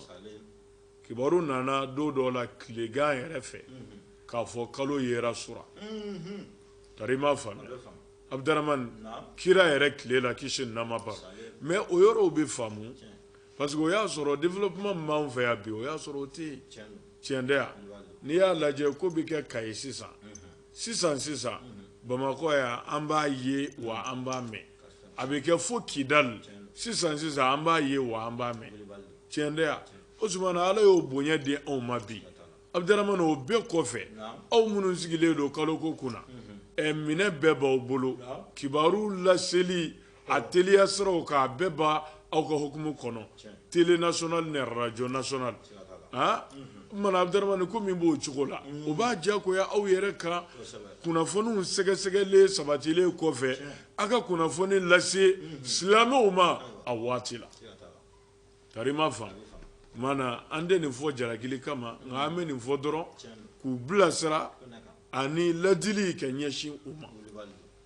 Speaker 3: kibaru nana don dɔ la tilegan yɛrɛ fɛ mhm. k'a fɔ kalo yera sura mhm. tari i ma faamuya abudramani kira yɛrɛ tile la kisi ni nɛɛma b'a ma mais o yɔrɔw bɛ faamu parce que o y'a sɔrɔ développement min b'an fɛ yan bi o y'a sɔrɔ o tɛ yen tiɲɛ tɛ yan n'i y'a lajɛ ko bɛ kɛ kayi sisan sisan sisan bamakɔ yan an b'a ye wa an b'a mɛn a bɛ kɛ fo kidali sisan sisan an b'a ye wa an b'a mɛn tiɲɛ tɛ yan o tuma na ala y'o bonya di anw ma bi abudaramani o bɛɛ kɔfɛ aw minnu sigilen don kalo ko kunna mhm. minɛn bɛɛ b'aw bolo kibaru laseli a teliya siraw k'a bɛɛ b'aw ka hukumu kɔnɔ tele national ni radio national han mana abdaramani ko min b'o cogo la o b'a diyagoya aw yɛrɛ kan kunnafoniw sɛgɛsɛgɛlen sabatilen kɔfɛ a ka kunnafoni lase silamɛw ma a waati la tari i m'a faamu mana an tɛ nin fɔ jalakili kama nka an bɛ nin fɔ dɔrɔn k'u bilasira ani ladili ka ɲɛsin u ma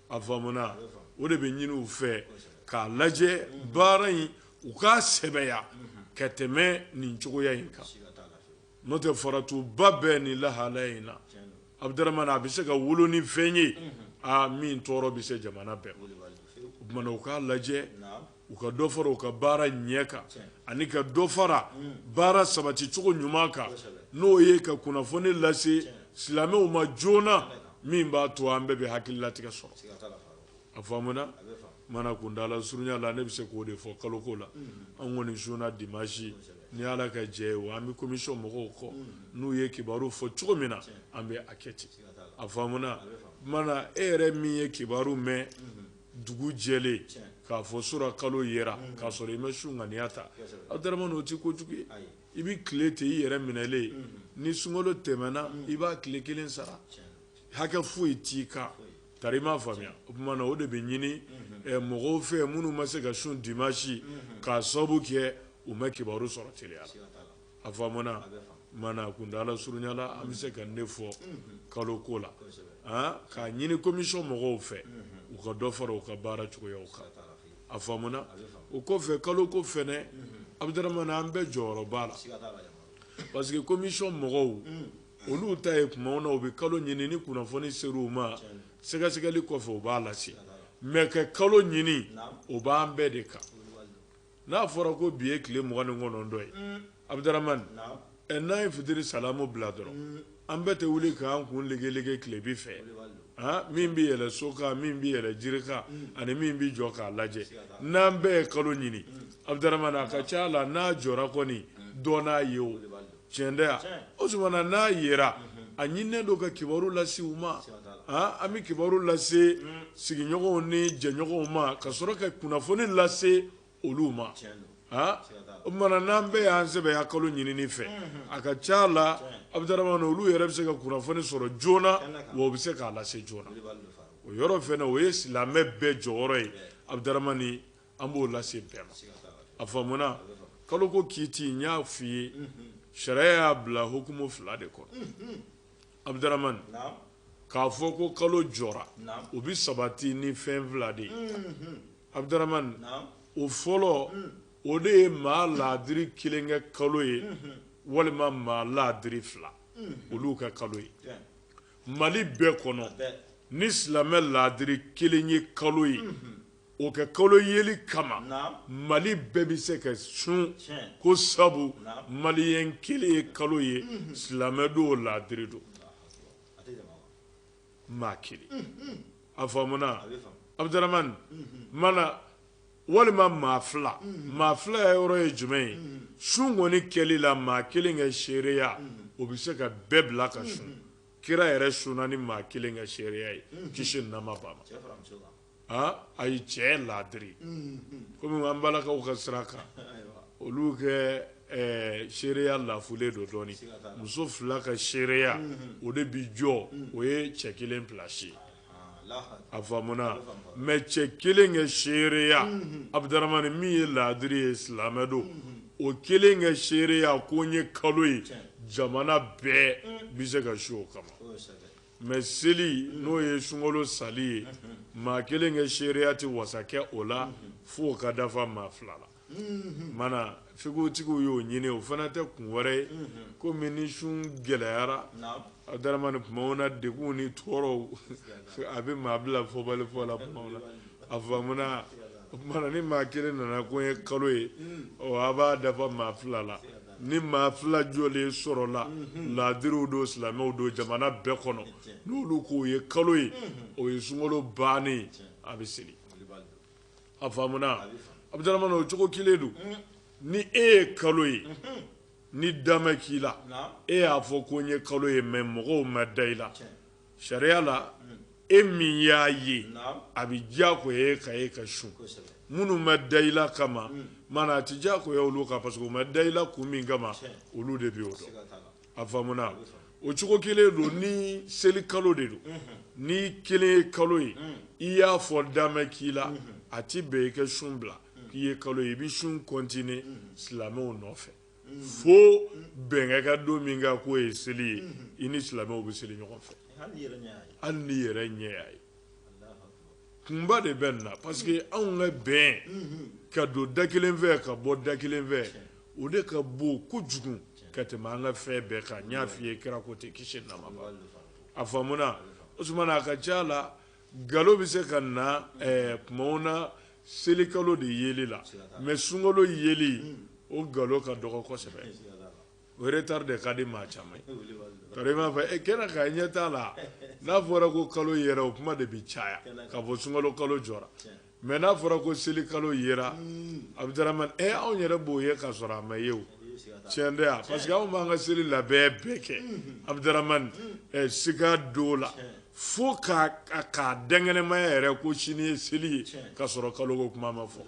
Speaker 3: a faamuna o de bɛ ɲini u fɛ k'a lajɛ baara in u k'a sɛbɛya ka tɛmɛ nin cogoya in kan n'o tɛ faratiba bɛ nin lahalaya in na abdaramani a bɛ se ka wolo ni fɛn ye aa min tɔɔrɔ bɛ se jamana bɛɛ o tuma na u k'a lajɛ u ka dɔ fara u ka baara ɲɛ kan ani ka dɔ fara baara sabati cogo ɲuman kan n'o ye ka kunnafoni lase silamɛw ma joona min b'a to an bɛɛ bɛ hakililatigɛ sɔrɔ a faamuna mana kuntaala surunya la ne bɛ se k'o de fɔ kaloko la an kɔni sunna dimansi ni ala ka jɛn ye wa an bɛ komisɔn mɔgɔw kɔ n'u ye kibaru fɔ cogo min na an bɛ a kɛ ten a faamuna mana e yɛrɛ min ye kibaru mɛn dugu jɛlen k'a fɔ sura kalo yera k'a sɔrɔ i ma sun ŋaniya ta abdarama o tɛ kojugu ye i bɛ tilen ten i yɛrɛ minɛlen ni sunkalo tɛmɛna i b'a tile kelen sara hakɛ foyi t'i kan tari i m'a faamuya o tuma na o de bɛ ɲini mɔgɔw fɛ minnu ma se ka sun dimasi k'a sababu kɛ u ma kibaru sɔrɔ teliya la a faamuna mana kuntaala surunya la an bɛ se ka nin fɔ kalo ko la k'a ɲini komisɔn mɔgɔw fɛ u ka dɔ fara u ka baara cogoyaw kan a faamuna o kɔfɛ kalo ko fɛnɛ abudaramana an bɛɛ jɔyɔrɔ b'a la parce que komisɔn mɔgɔw olu ta ye tuma na u bɛ kalo ɲini ni kunnafoni ser'u ma sɛgɛsɛgɛli kɔfɛ u b'a lase mais ka kalo ɲini o b'an bɛɛ de kan N'a fɔra ko bi ye tile mugan ni kɔnɔntɔn ye, un, Abudaramani, naamu, ɛ n'an ye fitiri salamu bila dɔrɔn, un, an bɛɛ tɛ wuli k'an kun legelege tilebin fɛ, wulibali don, han, min bɛ yɛlɛn so kan, min bɛ yɛlɛn jiri kan, un, ani min bɛ jɔ k'a lajɛ, siga t'a la, n'an bɛɛ ye kalo ɲini, un, Abudaramani, a ka c'a la n'a jɔra kɔni, un, dɔ n'a ye o. Tiɲɛ tɛ wa? Tiɲɛ! O tuma na n'a yera, a ɲininen don ka kibaru lase u ma. Siga t'a la. Haa, an bɛ kibaru lase sigiɲɔgɔnw ni jɛɲɔgɔnw ma, ka sɔrɔ ka kunnafoni lase olu ma. Tiɲɛ don. Haa, siga t'a la. O tuma na n'an bɛɛ y'an sɛbɛya kalo ɲinini fɛ, a ka c'a la, Abdaramani, olu yɛrɛ bɛ se ka kunnafoni sɔrɔ joona, kɛnɛ kan, wa u bɛ se k'a lase joona. Wulibali don, Farouk. O yɔrɔ fɛnɛ, o ye silamɛ bɛɛ jɔyɔrɔ ye, Abdaramani. an b'o lase bɛɛ ma a faamuna kalo ko kiti n y'a f'i ye sariya y'a bila hukumu fila de kɔnɔ abudaramani k'a fɔ ko kalo jɔra o bɛ sabati ni fɛn fila de ye abudaramani o fɔlɔ o de ye maa laadiri kelen kɛ kalo ye walima maa laadiri fila olu ka kalo ye mali bɛɛ kɔnɔ ni silamɛ laadiri kelen ye kalo ye o kɛ kalo yeli kama mali bɛɛ bɛ se ka sun ko sabu maliyɛn kelen ye kalo ye mhm. silamɛ don o laadiri don maa kelen mhm. a faamuna abudaramani mhm. mana walima maa fila maa filaya yɔrɔ ye jumɛn ye sun kɔni kɛli la maa kelen ka seereya o bɛ se ka bɛɛ bila ka sun kira yɛrɛ sunna ni maa kelen ka seereya ye kisi nɛɛma b'a ma ayi cɛ laadiri kɔmi an balakaw ka sira kan olu kɛ seereya lafulen don dɔɔnin muso fila ka seereya o de bɛ jɔ o ye cɛ kelen pilasi ye a faamuna mɛ cɛ kelen kɛ seereya abudaramani min ye laadiri ye silamɛ don o kelen kɛ seereya ko n ye kalo ye jamana bɛɛ bɛ se ka sun o kama Mɛ seli n'o ye sunkalo sali ye maa kelen kɛ seereya tɛ wasa kɛ o la fo ka dafa maa fila la mana fikutigiw y'o ɲini o fana tɛ kun wɛrɛ ye kɔmi ni sun gɛlɛyara abudaramani tumaw na degun ni tɔɔrɔw a bɛ maa bila fɔbali fɔ la a faamuna ni maa kelen nana ko n ye kalo ye a b'a dafa maa fila la ni maa fila jɔlen sɔrɔla mhm. laadiriw don silamɛw don jamana bɛɛ kɔnɔ n'olu k'o ye kalo ye mhm. o ye sunkalo bannen a bɛ seli a faamuna abudaramani o cogo kelen don mhm. ni e ye kalo ye ni da ma k'i la e y'a fɔ ko n ye kalo ye mɛ mɔgɔw ma da i la sariya la e min y'a ye a bɛ diyagoya e kan e ka sun minnu ma da i la kama hmm. mana a tɛ diyagoya olu kan parce que u ma da i la kun min kama olu de bɛ o dɔn a faamuna o cogo kelen don ni seli kalo de don hmm. n'i kelen ye kalo ye hmm. i y'a fɔ da ma k'i la a ti bɛn i ka sun bila k'i ye kalo ye i bɛ sun kɔntine silamɛw nɔfɛ fo bɛn ka kɛ don min kan k'o ye seli ye i ni silamɛw bɛ seli ɲɔgɔn fɛ hali n'i yɛrɛ ɲɛ y'a ye kunba de bɛ nin na parce que anw ka bɛn ka don da kelen fɛ ka bɔ da kelen fɛ o de ka bon kojugu ka tɛmɛ an ka fɛn bɛɛ kan n y'a f'i ye kira ko ten kisi nɛɛma b'a ma a faamuna o tuma na a ka ca la nkalon bɛ se ka na eh, kumaw na selikalo de yeli la mais sunkalo yeli hmm. o nkalon ka dɔgɔ kosɛbɛ o retard de ka di maa caman ye tari i m'a fɔ kɛnɛ kan i ɲɛ t'a la n'a fɔra ko kalo yera o kuma de bɛ caya k'a fɔ sunkalo kalo jɔra Mais n'a fɔra ko seli kalo yera abudramani anw yɛrɛ b'o ye ka sɔrɔ a ma ye o cɛn tɛ yan parce que anw b'an ka seli labɛn bɛɛ kɛ abudramani sika don la fo k'a dankɛnɛmaya yɛrɛ ko sini ye seli ye ka sɔrɔ kalo ko kuma ma fɔ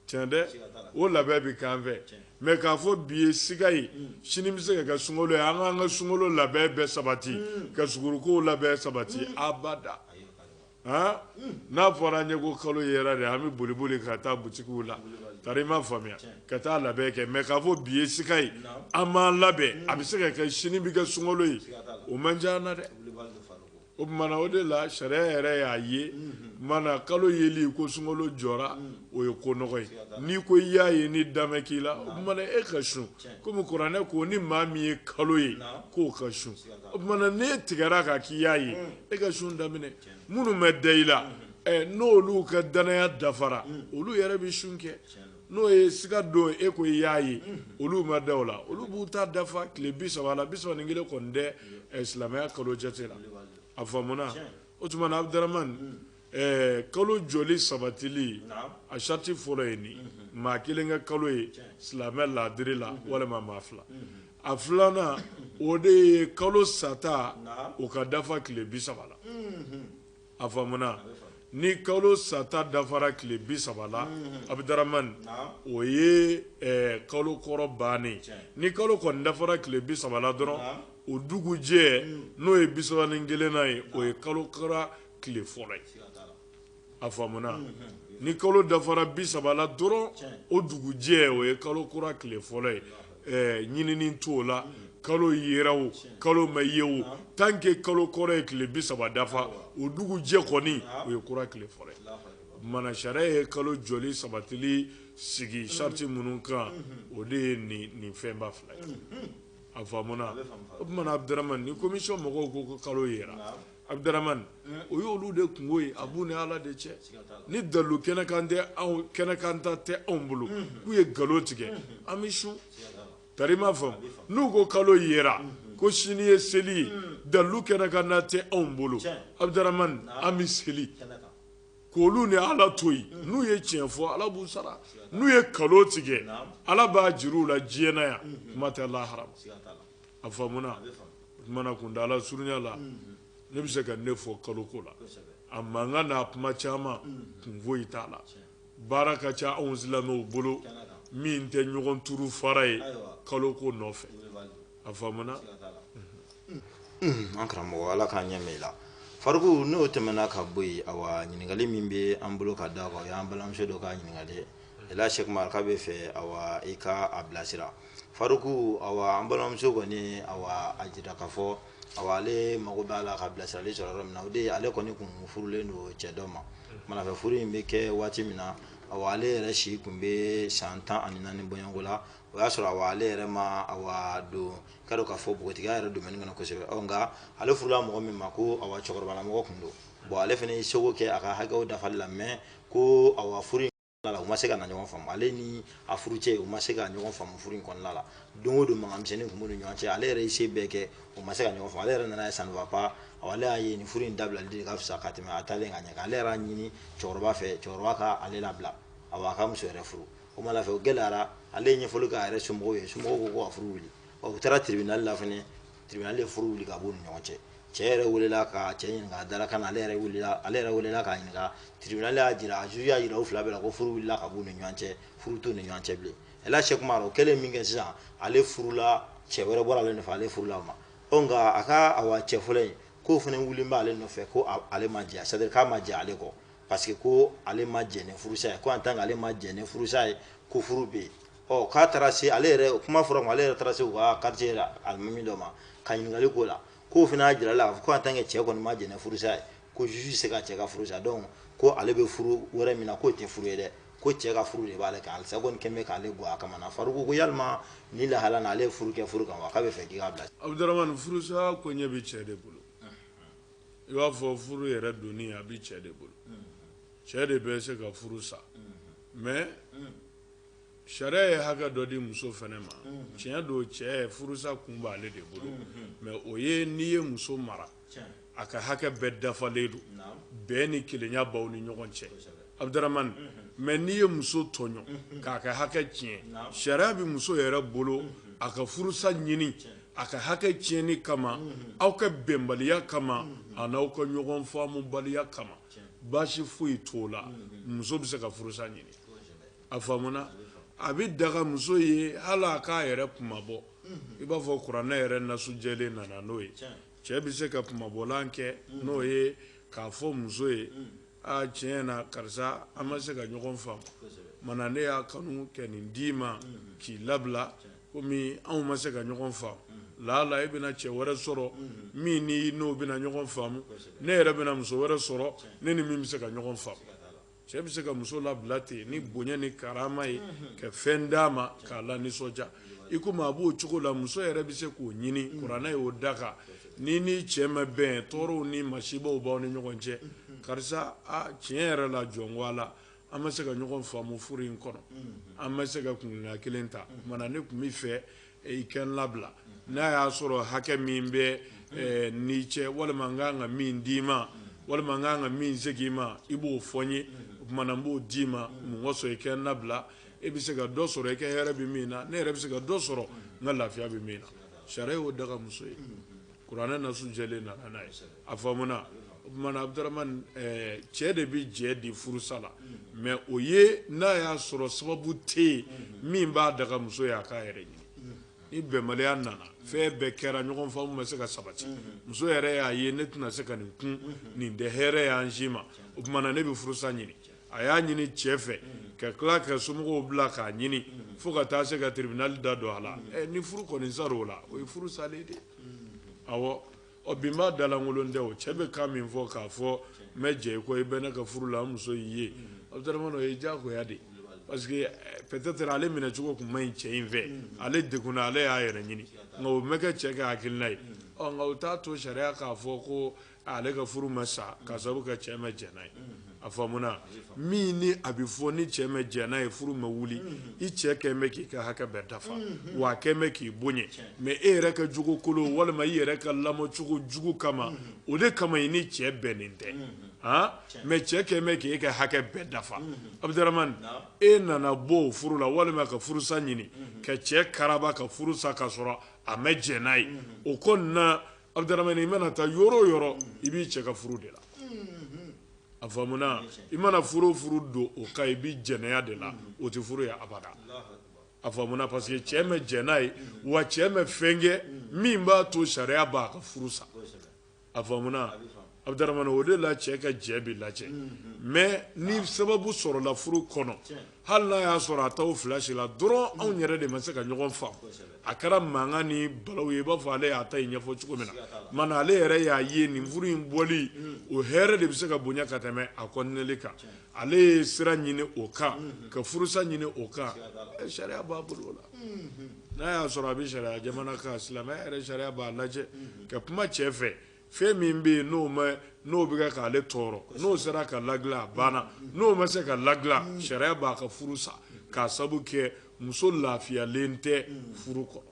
Speaker 3: cɛn tɛ o labɛn bɛ k'an fɛ mais k'a fɔ bi ye sika ye sini bɛ se ka kɛ sun ye an k'an ka sun labɛn bɛɛ sabati ka suguruko labɛn sabati abada n'a fɔra an ye ko kalo yera de an bɛ boli boli ka taa butikiw la tari i m'a faamu ka taa labɛn kɛ mais k'a fɔ bi ye sika ye an b'an labɛn a bɛ se ka kɛ sini bɛ kɛ sungɔlo ye o man ca an na dɛ o tumana o de la sariya yɛrɛ y'a ye mana kalo yeli ko sungɔlo jɔra o ye ko nɔgɔ ye n'i ko i y'a ye ni da ma k'i la o tumana e ka sun kɔmi kuranɛ ko ni maa min ye kalo ye k'o ka sun o tumana n'e tigɛra kan k'i y'a ye e ka sun daminɛ minnu bɛ da i la n'olu ka danaya dafara olu yɛrɛ bɛ sun kɛ n'o ye siga don e ko i y'a ye olu ma da o la olu b'u ta dafa tile bi saba la bi saba ni kelen kɔni tɛ silamɛya kalo jate la a faamuna o tuma abudramani Ɛɛ kalo jɔli sabatili a sariti fɔlɔ ye nin maa kelen ka kalo ye silamɛ laadiri la walima maa fila a filanan o de ye kalo sata o ka dafa tile bi saba la a faamuna ni kalo sata dafara tile bi saba la abudramani o ye kalo kɔrɔ bannen ni kalo kɔni dafara tile bi saba la dɔrɔn o dugujɛ n'o ye bi saba ni kelennan ye o ye kalo kura tile fɔlɔ ye a faamuna ni kalo dafara bi saba la dɔrɔn o dugujɛ o ye kalo kura tile fɔlɔ ye ɛɛ ɲinini t'o la kalo yera o kalo ma ye o tant que kalo kɔrɔ ye tile bi saba dafa o dugujɛ kɔni o ye kura tile fɔlɔ ye mana sariya ye kalo jɔli sabatili sigi sariti minnu kan o de ye nin nin fɛnba fila ye a faamuna o tumana abudramani ni komisiyɔn mɔgɔw ko ko kalo yera Abudramani o ye olu de kunko ye a b'u ni ala de cɛ ni dalilu kɛnɛkan ta tɛ anw bolo k'u ye nkalon tigɛ an bɛ sun tari i m'a faamu n'u ko kalo yera ko sini ye seli ye dalilu kɛnɛkan ta tɛ anw bolo abudramani an bɛ seli k' olu ni ala to yen n'u ye tiɲɛ fɔ ala b'u sara n'u ye nkalon tigɛ ala b'a jir'u la diɲɛ na yan kuma tɛ lahara a faamuna o tuma na kuntaala surunya la ne bɛ se ka nin fɔ kaloko la a mankan n'a kuma caman kun foyi t'a la baara ka ca anw silamɛw bolo min tɛ ɲɔgɔn turu fara ye kaloko nɔfɛ a
Speaker 2: faamuna an karamɔgɔ ala k'an ɲɛ mɛn i la Faruku n'o tɛmɛna ka bɔ yen awa ɲininkali min bɛ an bolo ka da kan o y'an balimamuso dɔ ka ɲininkali ye Ɛla Sɛku Umar k'a bɛ fɛ awa i ka a bilasira Faruku awa an balimamuso kɔni a jira k'a fɔ ale mago b'a la ka bilasirali sɔrɔ yɔrɔ min na o de ye ale kɔni kun furulen don cɛ dɔ ma manafɛ furu in bɛ kɛ waati min na awa ale yɛrɛ si kun bɛ san tan ani naani bɔɲɔgɔnko la o y'a sɔrɔ awa ale yɛrɛ ma don ka k'a fɔ npogotigiya yɛrɛ domaine kɔnɔ kosɛbɛ nka ale furula mɔgɔ min ma ko awa cɛkɔrɔbalamɔgɔ tun don ale fana y'i seko kɛ a ka hakɛ dafali la mais ko awa furu la u ma se ka na ɲɔgɔn faamu ale ni a furucɛ u ma se ka ɲɔgɔn faamu furu in kɔnɔna la don o don mankanmisɛnnin tun b'u ni ɲɔgɔn cɛ ale yɛrɛ ye se bɛɛ kɛ u ma se ka ɲɔgɔn faamu ale yɛrɛ nana ye ça ne va pas ale y'a ye nin furu in dabilali de ka fisa ka tɛmɛ a taalen ka ɲɛ ale yɛrɛ y'a ɲini cɛkɔrɔba fɛ cɛkɔrɔba ka ale labila awa a ka muso wɛrɛ furu o ma fɛ o gɛlɛyara ale ye ɲɛfɔli k'a yɛrɛ somɔgɔw ye somɔgɔw ko ko ka furu wuli u taara tribunal la fana tribunal ye furu wuli ka b'u ni ɲɔgɔn cɛ cɛ yɛrɛ welela ka cɛ ɲininka a dala kan ale yɛrɛ welela ale yɛrɛ welela k'a ɲininka tribunal y'a jira juge y'a jira u fila bɛɛ la ko furu wulila ka b'u ni ɲɔgɔn cɛ furu t'u ni ɲɔgɔn cɛ bilen Ɛla Sɛku Umar o kɛlen min kɛ sisan ale furula cɛ wɛrɛ bɔra ale nɔfɛ ale furula o ma ɔ nka a ka awa cɛ fɔlɔ in k'o fana wulilen bɛ ale nɔfɛ ko ale ma jɛ c'est à dire k'a ma jɛ ale kɔ parce que ko ale ma jɛ ni furusa ye ko en tant que ale ma jɛ ni furusa ye ko furu bɛ yen ɔ k'a taara se ale yɛrɛ kuma fɔra ma ale yɛrɛ taara se u ka quartier la alimami dɔ ma ka ɲininkali k'o la k'o fana y'a jira a la k'a fɔ ko en tant que cɛ kɔni ma jɛ ni furusa ye ko juge tɛ se ka cɛ ka furu sa donc ko ale bɛ furu wɛrɛ min na k'o tɛ furu ye dɛ ko cɛ ka furu de b'ale kan halisa kɔni kɛn bɛ k'ale gɔ a kama na faruku ko yalima nin lahala na ale ye furu kɛ furu kan wa k'a bɛ fɛ k'i k'a bila abudurahmani
Speaker 3: furusa koɲɛ bɛ cɛ de bolo i b'a fɔ furu yɛrɛ donni a bɛ cɛ de bolo cɛ de bɛ se ka furu sa mais Sariya ye hakɛ dɔ di muso fɛnɛ ma tiɲɛ don cɛ furusa kun b'ale de bolo mais o ye n'i ye muso mara a ka hakɛ bɛɛ dafalen don bɛn ni kelenya b'aw ni ɲɔgɔn cɛ Abudurahmani mais n'i ye muso tɔɲɔ k'a ka hakɛ tiɲɛ sariya bɛ muso yɛrɛ bolo a ka furusa ɲini a ka hakɛ tiɲɛni kama aw ka bɛnbaliya kama a n' aw ka ɲɔgɔn faamubaliya kama baasi foyi t'o la muso bɛ se ka furusa ɲini a faamuna a bɛ daga muso ye hali a k'a yɛrɛ kunmabɔ i b'a fɔ kuranɛ yɛrɛ nasu jɛlen nana n'o ye cɛ bɛ se ka kunmabɔlan kɛ n'o ye k'a fɔ muso ye aa tiɲɛ na karisa an ma se ka ɲɔgɔn faamu o tuma na ne y'a kanu ka nin d'i ma k'i labila komi anw ma se ka ɲɔgɔn faamu laala e bɛna cɛ wɛrɛ sɔrɔ min ni n'o bɛna ɲɔgɔn faamu ne yɛrɛ bɛna muso wɛrɛ sɔrɔ ne ni min bɛ se ka ɲɔgɔn faamu cɛ bɛ se ka muso labila ten ni bonya ni karama ye ka fɛn d'a ma k'a lanisɔndiya i komi a b'o cogo la muso yɛrɛ bɛ se k'o ɲini kuranɛ y'o daga n'i n'i cɛ ma bɛn tɔɔrɔw ni masibaw b'aw ni ɲɔgɔn cɛ karisa a tiɲɛ yɛrɛ la jɔn ko Ala an ma se ka ɲɔgɔn faamu furu in kɔnɔ an ma se ka kuntilenna kelen ta o tuma na ne tun b'a fɛ i ka n labila n'a y'a sɔrɔ hakɛ min bɛ eh, ni cɛ walima n ka kan ka min d'i ma walima n ka kan ka min segin i ma i b'o fɔ n ye o tuma na n b'o d'i ma mun kosɔn i ka n labila e bɛ se ka dɔ sɔrɔ i ka hɛrɛ bɛ min na ne yɛrɛ bɛ se ka dɔ sɔrɔ n ka lafiya bɛ min na sariya y'o daga muso ye Kuranɛ nasu jɛlen nana n'a ye, kosɛbɛ, a faamuna, o tuma na Abudaramani ɛɛ cɛ de bɛ jɛ di furusa la mais o ye n'a y'a sɔrɔ sababu tɛ yen min b'a daga muso ye a k'a yɛrɛ ɲini ni bɛnbaliya nana fɛn bɛɛ kɛra ɲɔgɔn faamu ma se ka sabati muso yɛrɛ y'a ye ne tɛna se ka nin kun nin tɛ hɛrɛ ye an si ma o tuma na ne bɛ furusa ɲini a y'a ɲini cɛ fɛ ka tila ka somɔgɔw bila k'a ɲini fo ka taa se ka tribunal da don a la eh, ni furu kɔni sara o la o ye furu salen de awɔ ɔ bi m'a dalankolon tɛ o cɛ bɛ kan min fɔ k'a fɔ n ma jɛ i kɔ i bɛ ne ka furu la n muso y'i ye Abudaramani o ye diyagoya de parce que eh, peut-être ale minɛ cogo tun man ɲi cɛ in fɛ ale degunna ale y'a yɛrɛ ɲini nka o ma kɛ cɛ ka hakilina ye ɔ nka o t'a to sariya k'a fɔ ko ale ka furu ma sa ka sababu kɛ cɛ ma jɛn n'a ye a faamuna min ni a bɛ fɔ ni cɛ ma jɛn n'a ye furu ma wuli i cɛ kɛn bɛ k'i ka hakɛ bɛɛ dafa wa a kɛn bɛ k'i bonya mais e yɛrɛ ka jogo kolon walima i yɛrɛ ka lamɔcogo jugu kama o de kama i ni cɛ bɛnnen tɛ mais cɛ kɛn bɛ k'e ka hakɛ bɛɛ dafa Abudaramani e nana bɔ o furu la walima ka furusa ɲini ka cɛ karaba ka furusa ka sɔrɔ a ma jɛn n'a ye o tuma na Abudaramani i mana taa yɔrɔ o yɔrɔ i b'i cɛ ka furu de la a faamuna i mana furu o furu don o kan i bɛ jɛnɛya de la o tɛ furu ye abada a faamuna parce que cɛ ma jɛn n'a ye wa cɛ ma fɛn kɛ min b'a to sariya b'a ka furu sa a faamuna Abdurahmani o de la cɛ ka jɛn bɛ lajɛ mais ni sababu sɔrɔla furu kɔnɔ hali n'a y'a sɔrɔ a t'aw fila si la dɔrɔn anw yɛrɛ de ma se ka ɲɔgɔn faamu a kɛra mankan ni balawu ye i b'a fɔ ale y'a ta ɲɛfɔ cogo min na ma ale yɛrɛ y'a ye nin furu in bɔli o hɛrɛ de bɛ se ka bonya ka tɛmɛ a kɔntinɛli kan ale ye sira ɲini o kan ka furusa ɲini o kan sariya b'a bolo o la n'a y'a sɔrɔ a bɛ sariya jamana kan silamɛ sariya b'a lajɛ ka kuma cɛ fɛ Fɛn min bɛ yen n'o ma n'o bɛ kɛ k'ale tɔɔrɔ n'o sera ka ladilan a banna n'o ma se ka ladilan sariya b'a ka furu sa k'a sabu kɛ muso lafiyalen tɛ furu kɔnɔ.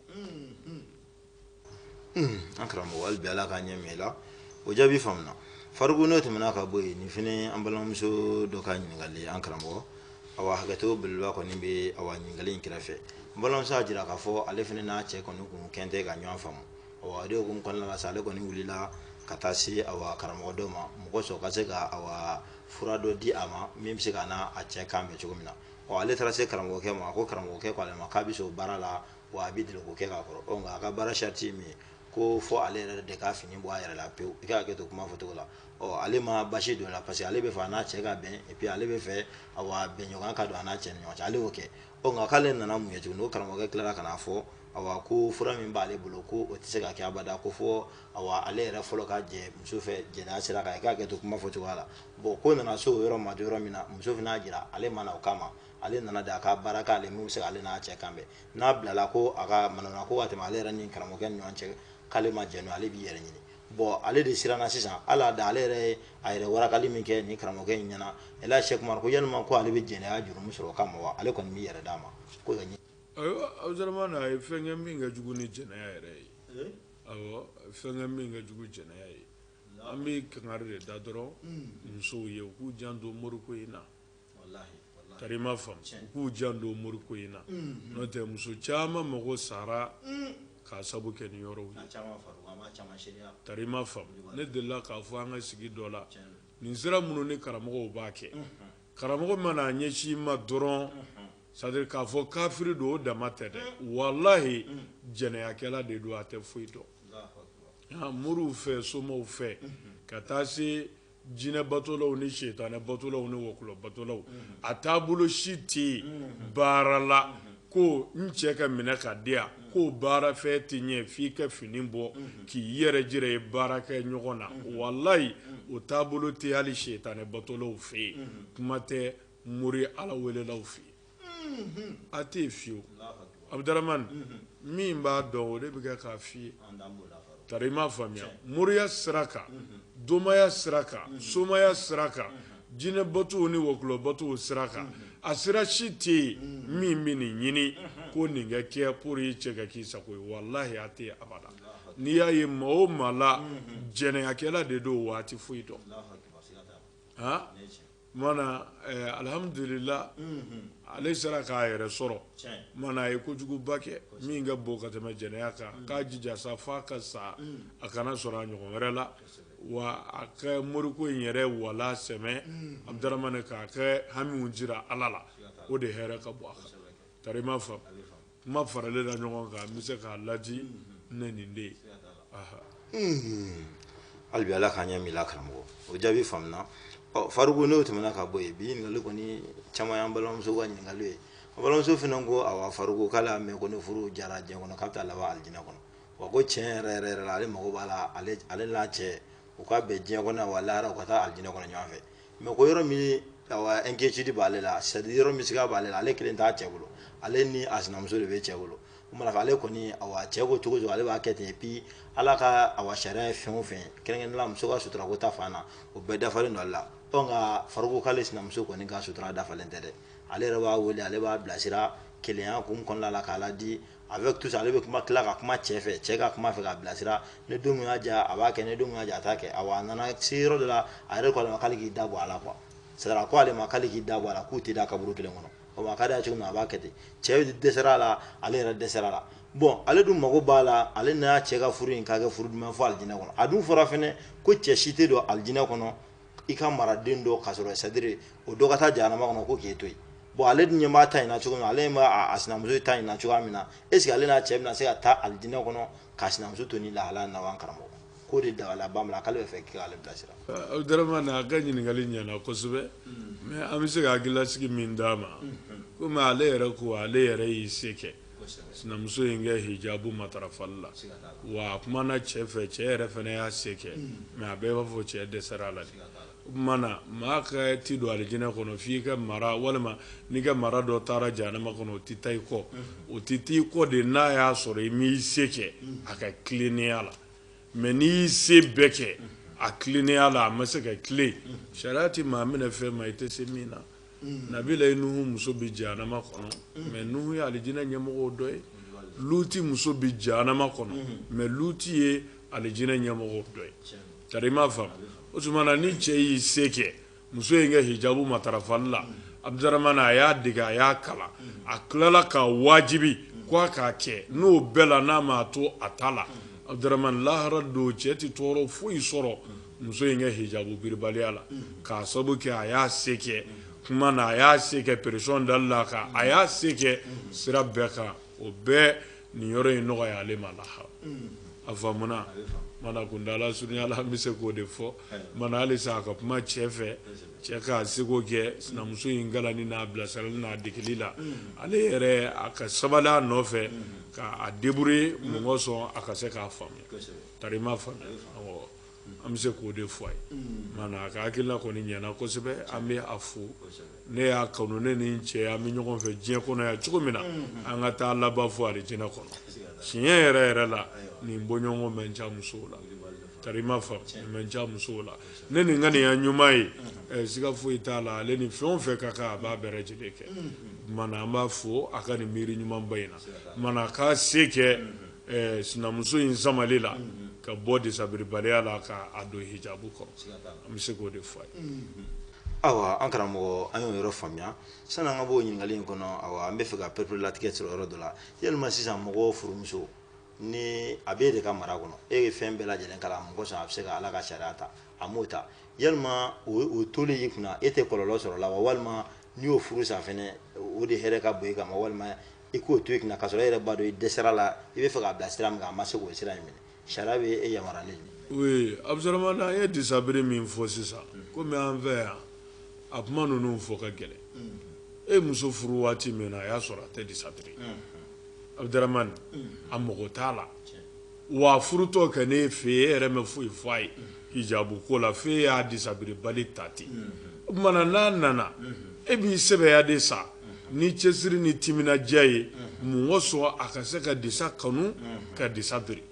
Speaker 2: An karamɔgɔ hali bi Ala k'a ɲɛ ŋa i la o jaabi faamuna Fariku n'o tɛmɛna ka bɔ yen nin fɛnɛ ye an balimamuso dɔ ka ɲininkali ye an karamɔgɔ awa hakɛto belebeleba kɔni bɛ awa ɲininkali in kɛrɛfɛ n balimamuso y'a jira k'a fɔ ale fɛnɛ n'a cɛ kɔni k'u kɛlen tɛ ka ɲɔgɔn faamu kun kɔnɔna la sa ale kɔni wulila ka taa se awa karamɔgɔ dɔ ma mɔgɔ sɔrɔ ka se ka awa fura dɔ di a ma min bɛ se k'a n'a cɛ kan bɛn cogo min na ɔ ale taara se karamɔgɔkɛ ma a ko karamɔgɔkɛ k'ale ma k'a bɛ se o baara la wa a bɛ deli k'o kɛ k'a kɔrɔ nka a ka baara sarati ye min ye ko fo ale yɛrɛ de k'a fini bɔ a yɛrɛ la pewu i ka hakɛ to kuma fɔcogo la ɔ ale ma basi don a la parce que ale b'a fɛ a n'a cɛ ka bɛn epi ale b'a fɛ awa bɛnɲɔgɔnya ka don a n'a cɛ ni ɲɔgɔn cɛ ale y'o kɛ ɔ nka k'ale nana mun ye tuguni o karamɔgɔkɛ tilara ka n'a fɔ awa ko fura min b'ale bolo ko o tɛ se ka kɛ abada ko fo ale yɛrɛ fɔlɔ ka jɛ muso fɛ jɛnɛya sira kan i ka hakɛ to kuma fɔcogoya la bon ko nana se o yɔrɔ ma yɔrɔ min na muso fana y'a jira ale ma na o kama ale nana de a ka baara k'ale min bɛ se k'ale n'a cɛ kan bɛn n'a bilala ko a ka manamana ko ka tɛmɛ ale yɛrɛ ni karamɔgɔkɛ ni ɲɔgɔn cɛ k'ale ma jɛn n'o ale b'i yɛrɛ ɲini bon ale de siranna sisan ala da ale yɛrɛ a yɛrɛ warakali min kɛ ni karamɔgɔkɛ in ɲɛna Sɛki Umaru ko yalima ko ale bɛ jɛnɛya jurumu sɔrɔ o kama wa ale kɔni m'i yɛrɛ d'a ma
Speaker 3: Abdurahmani a ye fɛn kɛ min ka jugu ni jɛnɛya yɛrɛ ye fɛn kɛ min ka jugu jɛnɛya ye an bɛ kangari de da dɔrɔn musow ye u k'u janto mori ko in na kariba faamu u k'u janto mori ko in na n'o tɛ muso caman mago sara k'a sabu kɛ nin yɔrɔw ye faamu ne delila k'a fɔ an ka sigi dɔ la nin sira minnu ni karamɔgɔ b'a kɛ karamɔgɔ mana a ɲɛsin ma dɔrɔn c'est-à-dire k'a fɔ kafiri don o dama tɛ dɛ walahi jɛnɛyakɛla de don a tɛ foyi dɔn moriw fɛ somaw fɛ ka taa se jinɛ batolaw ni setanɛ batolaw ni wɔkulɔ batolaw a taabolo si tɛ yen baara la ko n cɛ ka minɛ ka di yan ko baara fɛ tɛ ɲɛ f'i ka fini bɔ k'i yɛrɛ jira ye baara kɛ ɲɔgɔn na walayi o taabolo tɛ hali setanɛ batolaw fɛ yen kuma tɛ mori ala welelaw fɛ yen a tɛ fiyewu Abdurahmani min b'a dɔn o de bɛ kɛ k'a fɔ i ye Tari i m'a faamuya moriya sira kan domaya sira kan somaya sira kan jinɛ batow ni wɔkulɔ batow sira kan a sira si tɛ yen min bɛ nin ɲini ko nin ka kɛ pour i cɛ ka k'i sago ye walayi a tɛ abada n'i y'a ye maa o maa la jɛnɛyakɛla de don wa a ti foyi dɔn alihamdulila ale sera k'a yɛrɛ sɔrɔ mana a ye kojuguba kɛ min ka bon ka tɛmɛ jɛnɛya kan k'a jija sa f'a ka sa a kana sɔrɔ a ɲɔgɔn wɛrɛ la wa a ka moriko in yɛrɛ wala sɛ mais Abdurahamani k'a ka hamiw jira ala la o de hɛrɛ ka bon a kan tari i m'a faamu Kuma faralen la ɲɔgɔn kan n bɛ se k'a ladi ni nin de
Speaker 2: ye hali bi ala k'an ɲɛminɛ karamɔgɔ o jaabi faamuna Faruku n'o tɛmɛna ka bɔ yen bi ɲininkali kɔni caman y'an balimamuso ka ɲininkali ye an balimamuso fana ko awa Faruku k'ale y'a mɛn ko ni furu jara diɲɛ kɔnɔ k'a bɛ taa laban alijinɛ kɔnɔ wa ko cɛn yɛrɛ yɛrɛ yɛrɛ la ale mako b'a la ale n'a cɛ u ka bɛn diɲɛ kɔnɔ wa lahara u ka taa alijinɛ kɔnɔ ɲɔgɔn fɛ mais ko yɔrɔ min inquiétude b'ale la c'est à dire yɔrɔ min siga b'ale la ale kelen t'a cɛ bolo ale ni a sinamuso de bɛ cɛ bolo ɲɔgɔn fɛ ale kɔni awa cɛ ko cogo o cogo ale b'a kɛ ten et puis ala ka awa sariya ye fɛn o fɛn kɛrɛnkɛrɛnnenya la muso ka sutura ko ta fan na o bɛɛ dafalen don ale la nka Faruku k'ale sinamuso kɔni ka sutura dafalen tɛ dɛ ale yɛrɛ b'a wele ale b'a bilasira kelenya kun kɔnɔna la k'a ladi avec tout ça ale bɛ tila ka kuma cɛ fɛ cɛ ka kuma a fɛ k'a bilasira ni don min y'a diya a b'a kɛ ni don min y'a diya a t'a kɛ awa a nana se yɔrɔ dɔ la a yɛrɛ ko ale ma k'ale k'i da bɔ a la quoi c'est à dire ko ale ma k'ale k'i da bɔ a la k'u tɛ da kaburu kelen kɔnɔ o ma ka d'a ye cogo min na a b'a kɛ ten cɛ dɛsɛra a la ale yɛrɛ dɛsɛra a la bon ale dun mago b'a la ale n'a cɛ ka furu in k'a kɛ furu duman fo alijinɛ kɔnɔ a dun fɔra fɛnɛ ko cɛ si tɛ don alijinɛ kɔnɔ i ka maraden dɔ ka sɔrɔ c'est à dire o dɔ ka taa jahanama kɔnɔ ko k'e to yen bon ale dun ɲɛ b'a ta in na cogo min na ale b'a a sinamuso ta in na cogoya min na est ce que ale n'a cɛ bɛna se ka taa alijinɛ kɔnɔ k'a sinamuso to ni lahara na wa an karamɔgɔ k'o de dabali banna a la k'ale b'a fɛ k'ale bilasira Abdurahamani a
Speaker 3: ka ɲininkali ɲɛna kosɛbɛ mais an bɛ se ka hakilasigi min d'a ma komi ale yɛrɛ ko ale yɛrɛ y'i se kɛ sinamuso in ka hijabu matarafali la wa a kumana cɛ fɛ cɛ yɛrɛ fana y'a se kɛ mais a bɛɛ b'a fɔ cɛ dɛsɛra a la o tuma na maa ka ti don alijinɛ kɔnɔ f'i ka mara walima n'i ka mara dɔ taara jahanama kɔnɔ o tɛ taa i kɔ o tɛ taa i kɔ de n'a y'a sɔrɔ i m'i se kɛ a ka tilennenya la mais n'i y'i se bɛɛ kɛ a tilennenya la a ma se ka tilen sariya tɛ maa minɛ fɛn ma i tɛ se min na mm. nabilayi nuhu muso bi jahanama kɔnɔ mm. mais nuhu ye alijinɛ ɲɛmɔgɔw dɔ ye luti muso bi jahanama kɔnɔ mm. mais luti ye alijinɛ ɲɛmɔgɔw dɔ ye tari i m'a faamu o tuma na ni cɛ y'i se kɛ muso in ka hijabu matarafali la abudurahmani a y'a dege a y'a kalan a tilala k'a wajibi ko a k'a kɛ n'o bɛɛ la n'a ma to a ta la abudurahmani lahara don cɛ tɛ tɔɔrɔ foyi sɔrɔ muso in ka hijabu biribaliya la k'a sababu kɛ a y'a se kɛ kuma na a y'a se kɛ pression dali la a kan a y'a se kɛ sira bɛɛ kan o bɛɛ nin yɔrɔ in nɔgɔya ale ma lahara a faamuna mana kuntaala surunya la an bɛ se k'o de fɔ mana hali sa a ka kuma cɛ fɛ cɛ k'a seko kɛ sinamuso in kalanni n'a bilasirali n'a degeli la ale yɛrɛ a ka sabali a nɔfɛ k'a débrouiller mun kosɔn a ka se k'a faamuya tari i m'a faamuya awɔ an bɛ se k'o de fɔ a ye maana a ka hakilila kɔni ɲɛna kosɛbɛ an bɛ a fo ne y'a kanu ne ni n cɛ an bɛ ɲɔgɔn fɛ diɲɛ kɔnɔ yan cogo min na an ka taa laban fo alijinɛ kɔnɔ tiɲɛ yɛrɛ yɛrɛ la nin bɔɲɔgɔn man ca musow la tari i m'a faamu man ca musow la ne nin ŋaniya ɲuman ye eh, siga foyi t'a la ale ni fɛn o fɛn ka kan a b'a bɛɛ lajɛlen kɛ mana an b'a fo a ka nin miiri ɲumanba in na mana k'a se kɛ sinamuso in samali la ka bɔ disabiribaliya la k'a don hijabu kɔrɔ an bɛ se k'o de fɔ a ye ayiwa
Speaker 2: an karamɔgɔ an y'o yɔrɔ faamuya sanni an ka b'o ɲininkali in kɔnɔ an bɛ fɛ ka pereperelatigɛ sɔrɔ yɔrɔ dɔ la yalima sisan mɔgɔ furumuso ni a bɛ e de ka mara kɔnɔ e ye fɛn bɛɛ lajɛlen k'a la mun kosɔn a bɛ se ka ala ka sariya ta a m'o ta yalima o toli y'i kunna e tɛ kɔlɔlɔ sɔrɔ a la wa walima n'i y'o furu sa o de hɛrɛ ka bon e kan walima i k'o to i kunna k'a sɔrɔ e yɛrɛ b'a dɔn i dɛsɛra a la i bɛ fɛ k'a bila sira min kan a ma se k'o sira in minɛ sariya bɛ e yamaruyalen de. oui abudaramani
Speaker 3: n'an ye disabiri min fɔ sisan komi an fɛ yan a kuma ninnu fɔ ka gɛlɛn e muso furu waati min na a y'a sɔrɔ a tɛ disabiri abudaramani a mago t'a la Wa a furutɔ kɛ ne fɛ e yɛrɛ ma foyi fɔ a ye hijabu ko la fo e y'a disabiribali ta ten o tuma na n'a nana e b'i sɛbɛya de sa ni cɛsiri ni timinandiya ye mun kosɔn a ka se ka disa kanu ka disa biri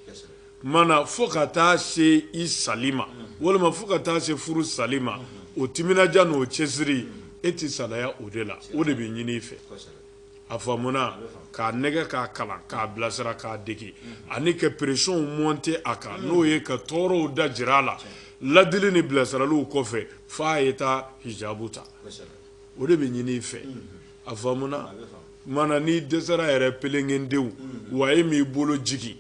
Speaker 3: mana fo ka taa se i sali ma walima fo ka taa se furu sali ma o timinandiya n' o cɛsiri e tɛ salaya o de la o de bɛ ɲinin i fɛ a faamuna k'a nɛgɛn k'a kalan k'a bilasira k'a dege ani ka pression monter a kan n'o ye ka tɔɔrɔw da jira a la ladili ni bilasiraliw kɔfɛ fo a ye taa hijabu ta o de bɛ ɲinin i fɛ a faamuna mana n'i dɛsɛra yɛrɛ pelenkete wa e m'i bolo jigin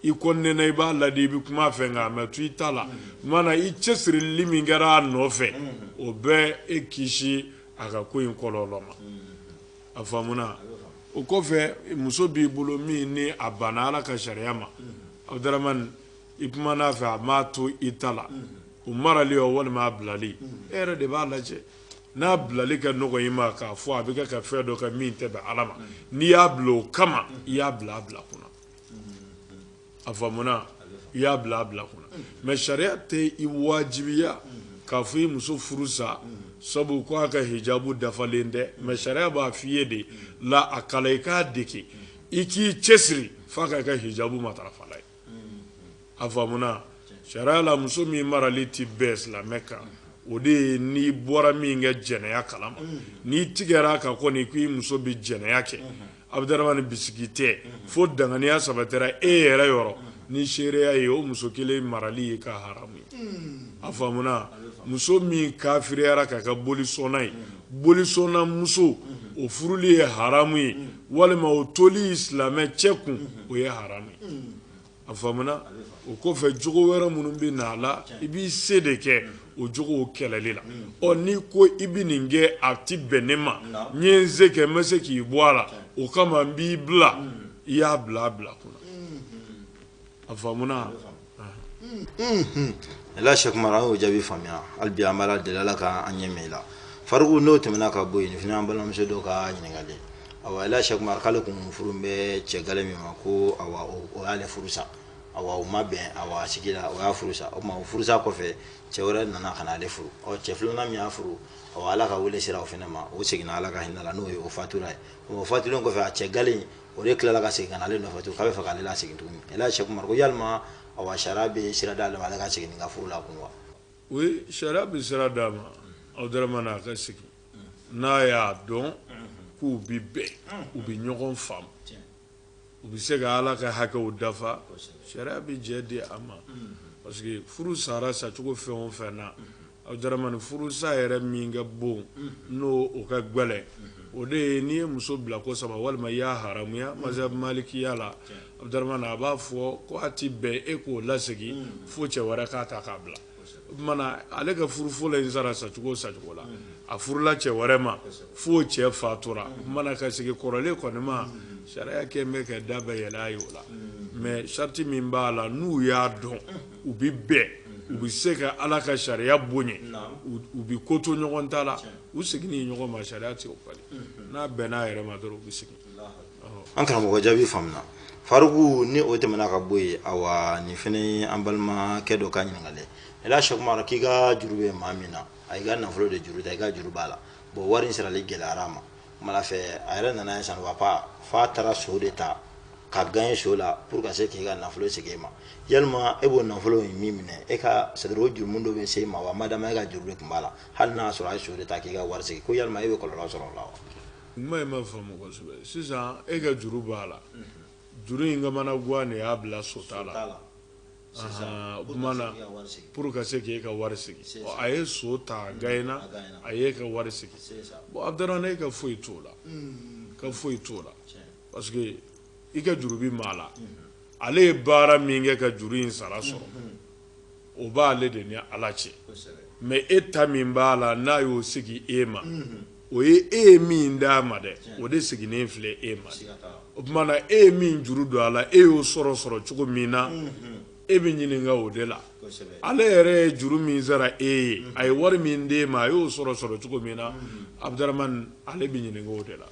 Speaker 3: i kɔni i b'a ladi i bɛ kuma a fɛ nka a ma to i ta la mana i cɛsirili min kɛra a nɔfɛ o bɛ e kisi a ka ko in kɔlɔlɔ ma a faamuna o kɔfɛ muso b'i bolo min ni a banna ala ka sariya ma abudaramani i kumana a fɛ a m'a to i ta la o marali o walima a bilali e yɛrɛ de b'a lajɛ n'a bilali ka nɔgɔ i ma k'a fɔ a bɛ kɛ ka fɛn dɔ kɛ min tɛ bɛn ala ma n'i y'a bila o kama i y'a bila a bila kun na a faamuna i y'a bila a bila kun na mɛ sariya tɛ i wajibiya k'a fɔ i muso furu sa sabu ko a ka hijabu dafalen tɛ mɛ sariya b'a fɔ i ye de la a kalan i k'a dege i k'i cɛsiri f'a ka kɛ hijabu matarafala ye a faamuna sariya la muso min marali tɛ bɛn silamɛ kan o de ye n'i bɔra min ka jɛnɛya kalama n'i tigɛra a kan kɔni k'i muso bɛ jɛnɛya kɛ abudaramani bisigi tɛ fo danganiya sabatira e yɛrɛ yɔrɔ ni seereya ye o muso kelen marali ye ka haramu ye a faamuna muso min kafiriyara ka kɛ bolisɔnna ye bolisɔnna muso o furuli ye haramu ye walima o toli silamɛ cɛ kun o ye haramu ye a faamuna o kɔfɛ jogo wɛrɛ minnu bɛ na a la i b'i se de kɛ o jogow kɛlɛli la ɔ n'i ko i bɛ nin kɛ a tɛ bɛn ne ma n ye n se kɛ n bɛ se k'i bɔ a la o kama n b'i bila i y'a bila a bila kun na a
Speaker 2: faamuna Ela Sɛk Umar an y'o jaabi faamuya hali bi an b'Ala deli Ala ka an ɲɛ i la Fariku n'o tɛmɛna ka bɔ yen nin fana y'an balimamuso dɔ ka ɲininkali ye awa Ela Sɛk Umar k'ale tun furu bɛ cɛ gale min ma ko o y'ale furu sa u ma bɛn a sigi la o y'a furu sa o tuma o furusa kɔfɛ cɛ wɛrɛ nana ka ale furu ɔ cɛ filanan min y'a furu ala ka weele sera o fana ma o seginna ala ka hinɛ la n'o ye o fatura ye o fatulen kɔfɛ a cɛ gale o de tilala ka segin ka na ale nɔfɛ tuguni k'a bɛ fɛ k'ale lasegin tuguni Ela Sɛk Umar ko yala sariya bɛ sira d'a ma ale ka segin ka furu la kun wa sariya
Speaker 3: bɛ sira d'a ma abudaramani a ka segin n'a y'a dɔn k'u bɛ bɛn u bɛ ɲɔgɔn faamu u bɛ se ka ala ka hakɛw dafa sariya bɛ jɛ di a ma parce que furu sara sacogo fɛn o fɛn na abudaramani furu sa yɛrɛ min ka bon n'o o ka gɛlɛn o de ye n'i ye muso bila ko saba walima i y'a haramuya mazhab malikiya la abudaramani a b'a fɔ ko a tɛ bɛn e k'o lasegin fo cɛ wɛrɛ k'a ta k'a bila ale ka furu fɔlɔ in sara sacogo sacogo la a furula cɛ wɛrɛ ma fo cɛ fatura o tuma na a ka segin kɔrɔlen kɔni ma sariya kɛ bɛ ka da bɛɛ yɛlɛ a ye o la mɛ sariti min b'a la n'u y'a dɔn u bɛ bɛn u bɛ se ka ala ka sariya bonya u bɛ ko to ɲɔgɔn ta la u seginni ɲɔgɔn ma sariya tɛ o bali n'a bɛnna a yɛrɛ ma dɔrɔn u bɛ segin an
Speaker 2: karamɔgɔ jaabi faamuna faruku ni o tɛmɛna ka bɔ yen awa nin fana ye an balimakɛ dɔ ka ɲininkali ye la sɛkumara k'i ka juru bɛ maa min na a y'i ka nafolo de juru ta i ka juru b'a la bon wari in sarali gɛlɛyara a ma kumana fɛ a yɛrɛ nana je sais pas f'a taara so de ta ka gaɲe so la pour ka se k'i ka nafolo segin e ma yalima e b'o nafolo in min minɛ e ka c'est à dire o jurumu dɔ bɛ se e ma wa madama e ka juru de tun b'a la hali n'a y'a sɔrɔ a ye so de ta k'i ka wari segin ko yalima e bɛ kɔlɔlɔ sɔrɔ o la wa Kuma in
Speaker 3: ma faamu kosɛbɛ sisan e ka juru b'a la juru in ka mana gan de y'a bila so ta la pour ka se k'e ka wari segin a ye so ta gaɲena a y'e ka wari segin bon abudurahmani e ka foyi t'o la ka foyi t'o la parce que i ka juru bɛ maa la ale ye baara min kɛ ka juru in sara sɔrɔ o b' ale de ni ala cɛ mais e ta min b'a la n'a y'o segin e ma o ye e ye min d'a ma dɛ o de seginnen filɛ e ma o tuma na e ye min juru don a la e y'o sɔrɔ sɔrɔ cogo min na e bɛ ɲininka o de la ale yɛrɛ ye juru min sara e ye a ye wari min d'e ma a y'o sɔrɔ sɔrɔ cogo min na abudurahmani ale bɛ ɲininka o de la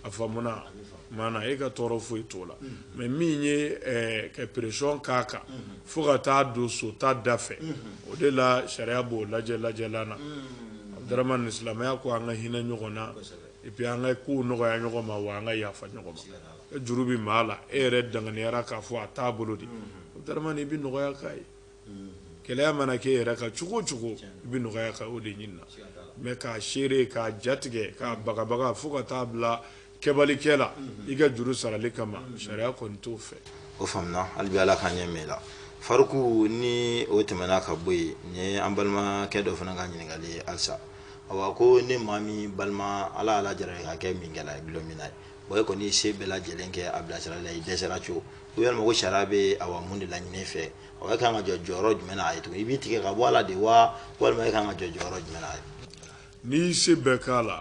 Speaker 3: a faamuna maana e ka tɔɔrɔ foyi t'o la mais min ye e ka pression k'a kan fo ka taa don so ta da fɛ o de la sariya b'o lajɛ lajɛlan na abudurahmani silamɛya ko an ka hinɛ ɲɔgɔn na et puis an ka kow nɔgɔya ɲɔgɔn ma wa an ka yafa ɲɔgɔn ma e juru bɛ maa la e yɛrɛ danganiyara k'a fɔ a t'a bolo dɛ abudurahmani i bɛ nɔgɔya k'a ye gɛlɛya mana k'e yɛrɛ kan cogo o cogo i bɛ nɔgɔya kɛ o de ɲinina mais k'a serrer k'a jatigɛ k'a bagabaga fo ka t'a bila kɛbali kɛ la i ka juru sarali kama sariya kɔni t'o fɛ o faamuna hali
Speaker 2: bi ala ka ɲɛ mɛn la faruku ni o tɛmɛna ka bɔ yen nin ye an balimakɛ dɔ fana ka ɲininkali ye halisa awa ko ne maa min balima ala y'a lajarabi ka kɛ minkɛla ye dulɔminna ye wa e kɔni y'i se bɛɛ lajɛlen kɛ a bilasirali la i dɛsɛra cogo yalima ko sariya bɛ awa mun de laɲini fɛ awa e ka kan ka jɔ jɔyɔrɔ jumɛn na a ye tugun i b'i tigɛ ka bɔ a la de wa walima e ka kan ka jɔ jɔyɔrɔ jumɛn na a ye n'i y'i se
Speaker 3: bɛɛ k'a la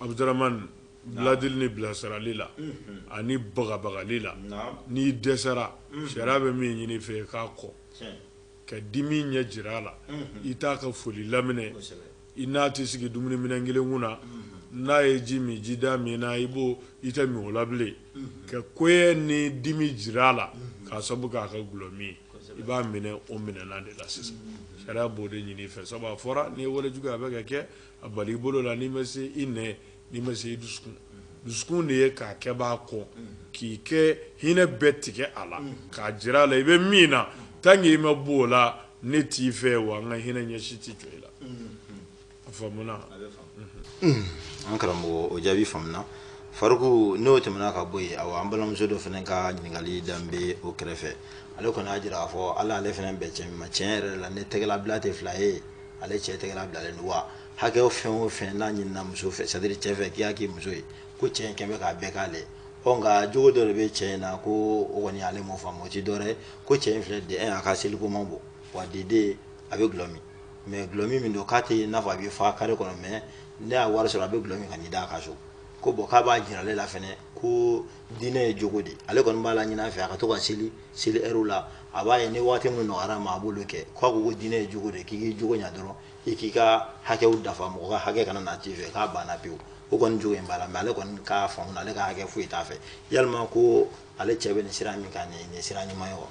Speaker 3: abudaramani biladili ni bilasirali la ani bagabagali la n'i dɛsɛra sariya bɛ min ɲini fɛ k'a kɔn ka dimi ɲɛ jira a la i t'a ka foli laminɛ i n'a tɛ sigi dumuni minɛn kelen kun na n'a ye ji min ji da min na i b'o i tɛ min o la bilen ka kɔniya ni dimi jira a la k'a sabu k'a ka gulɔ min i b'a minɛ o minɛnan de la sisan sariya b'o de ɲini fɛ sabu a fɔra n'i ye walejugu a bɛ ka kɛ a bali i bolo la n'i ma se i nɛ n'i ma se i dusukun dusukun de ye k'a kɛbaa kɔn k'i ka hinɛ bɛɛ tigɛ a la k'a jira a la i bɛ min na tant que i ma bɔ o la ne t'i fɛ wa n ka hinɛ ɲɛ si tɛ jɔ i la a faamuna
Speaker 2: an karamɔgɔ o jaabi faamuna Faruku n'o tɛmɛna ka bɔ yen awa an balimamuso dɔ fana ka ɲininkali dan bɛ o kɛrɛfɛ ale kɔni y'a jira k'a fɔ hali ale fana bɛ cɛ min ma tiɲɛ yɛrɛ la ni tɛgɛlabila tɛ fila ye ale cɛ tɛgɛlabilalen don wa hakɛ fɛn o fɛn n'a ɲinina muso fɛ c'est-à-dire cɛ fɛ k'i y'a k'i muso ye ko cɛ in kɔni bɛ k'a bɛɛ k'ale ɔ nka jogo dɔ de bɛ cɛ in na ko o kɔni ale m'o faamu o ti dɔwɛrɛ ko cɛ in filɛ de eh, a ka seliko man bon wa deden a bɛ gulɔ min mais gulɔ min min don k'a tɛ i n'a fɔ a bɛ fa kare kɔnɔ mais n'a y'a wari sɔrɔ a bɛ gulɔ min ka n'i da a ka so ko bon k'a b'a jira ale la fɛnɛ ko diinɛ ye jogo de ale kɔni b'a laɲin'a fɛ a ka to ka seli seli ɛriw la a b'a ye ni waati min nɔgɔyar'a ma a b'olu kɛ k'a ko ko diinɛ ye jogo de k'i k'i jogo ɲa dɔrɔn i k'i ka hakɛw dafa mɔgɔ ka hakɛ kana na t'i fɛ k'a banna pewu o kɔni jogo in b'a la mais ale kɔni ka fan na ale ka hakɛ foyi t'a fɛ yalima ko ale cɛ bɛ nin sira min kan nin sira ɲuman ye wa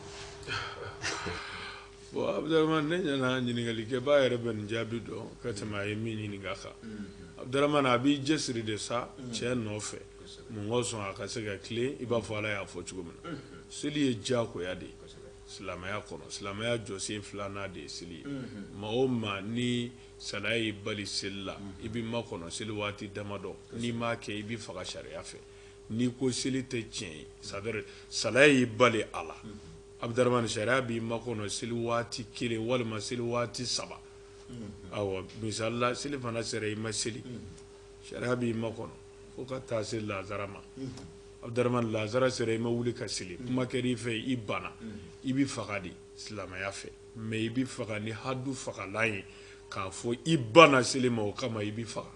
Speaker 3: bon Abudaramani ne ɲɛna ɲininkalikɛbaa yɛrɛ bɛ nin jaabi dɔn ka tɛmɛ a ye min ɲininka kan mm-hmm. Abudaramani a b'i cɛsiri de sa mm-hmm. cɛ nɔfɛ mun ka sɔn a ka se ka tilen i b'a fɔ ala y'a fɔ cogo min na mm-hmm. seli ye diyagoya de ye Silamɛya kɔnɔ silamɛya jɔsen filanan de ye seli ye maa o maa ni salaya y'i bali seli la i bɛ makɔnɔ seli waati damadɔ n'i m'a kɛ i bɛ faga sariya fɛ n'i ko seli tɛ tiɲɛ ye c'est-à-dire salaya y'i bali a la Abudaramani sariya b'i makɔnɔ seli waati kelen walima seli waati saba awa misali la selifana sera i ma seli sariya b'i makɔnɔ fo ka taa se lazara ma Abudaramani lazara sera i ma wuli ka seli kuma kɛra i fɛ i banna i bɛ faga de silamɛya fɛ mais i bɛ faga ni hadu fagalan ye k'a fɔ i banna seli ma o kama i bɛ faga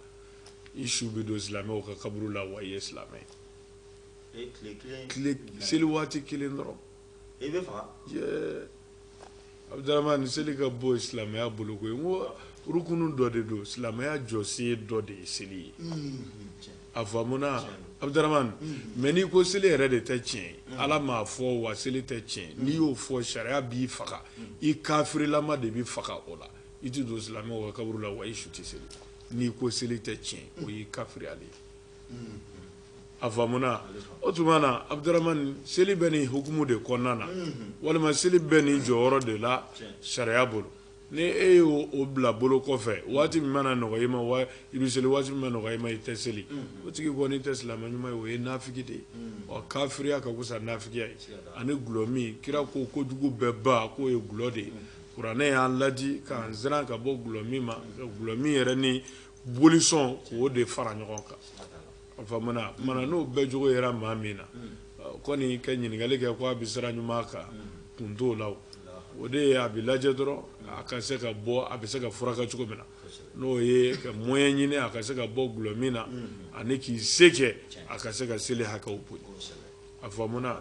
Speaker 3: i su bɛ don silamɛw ka kaburu la wa i ye silamɛ ye seli waati kelen dɔrɔn Abudaramani seli ka bon silamɛya bolo koyi n ko rukunu dɔ de don silamɛya jɔsen dɔ de ye seli ye a faamuna Abudaramani mais n'i ko seli yɛrɛ de tɛ tiɲɛ ye ala m'a fɔ wa seli tɛ tiɲɛ n'i y'o fɔ sariya b'i faga i kafirilama de bɛ faga o la i tɛ don silamɛw ka kaburu la wa i su tɛ seli n'i ko seli tɛ tiɲɛ o y'i kafiriyalen ye a faamuna o tuma na Abudaramani seli bɛ nin hukumu de kɔnɔna na walima seli bɛ nin jɔyɔrɔ de la sariya bolo ni e y'o bila bolo kɔfɛ waati min mana nɔgɔya i ma i bɛ seli waati min ma nɔgɔya i ma i tɛ seli o tigi kɔni tɛ silamɛ ɲuman ye o ye nafiki de ye wa kafiriya ka fisa nafikiya ye ani gulɔmin kira ko kojugu bɛɛ ba k'o ye gulɔ de ye kuranɛ y'an laadi k'an siran ka bɔ gulɔmin ma gulɔmin yɛrɛ ni bolisɔn k'o de fara ɲɔgɔn kan a faamuna mana n'o bɛɛ jogo yera maa min na kɔni ka ɲininkali kɛ ko a bɛ sira ɲuman kan kun t'o la o de ye a bɛ lajɛ dɔrɔn a ka se ka bɔ a bɛ se ka furakɛ cogo min na n'o ye ka moyen ɲini a ka se ka bɔ gulɔ min na ani k'i se kɛ a ka se ka seli hakɛw bonya a faamuna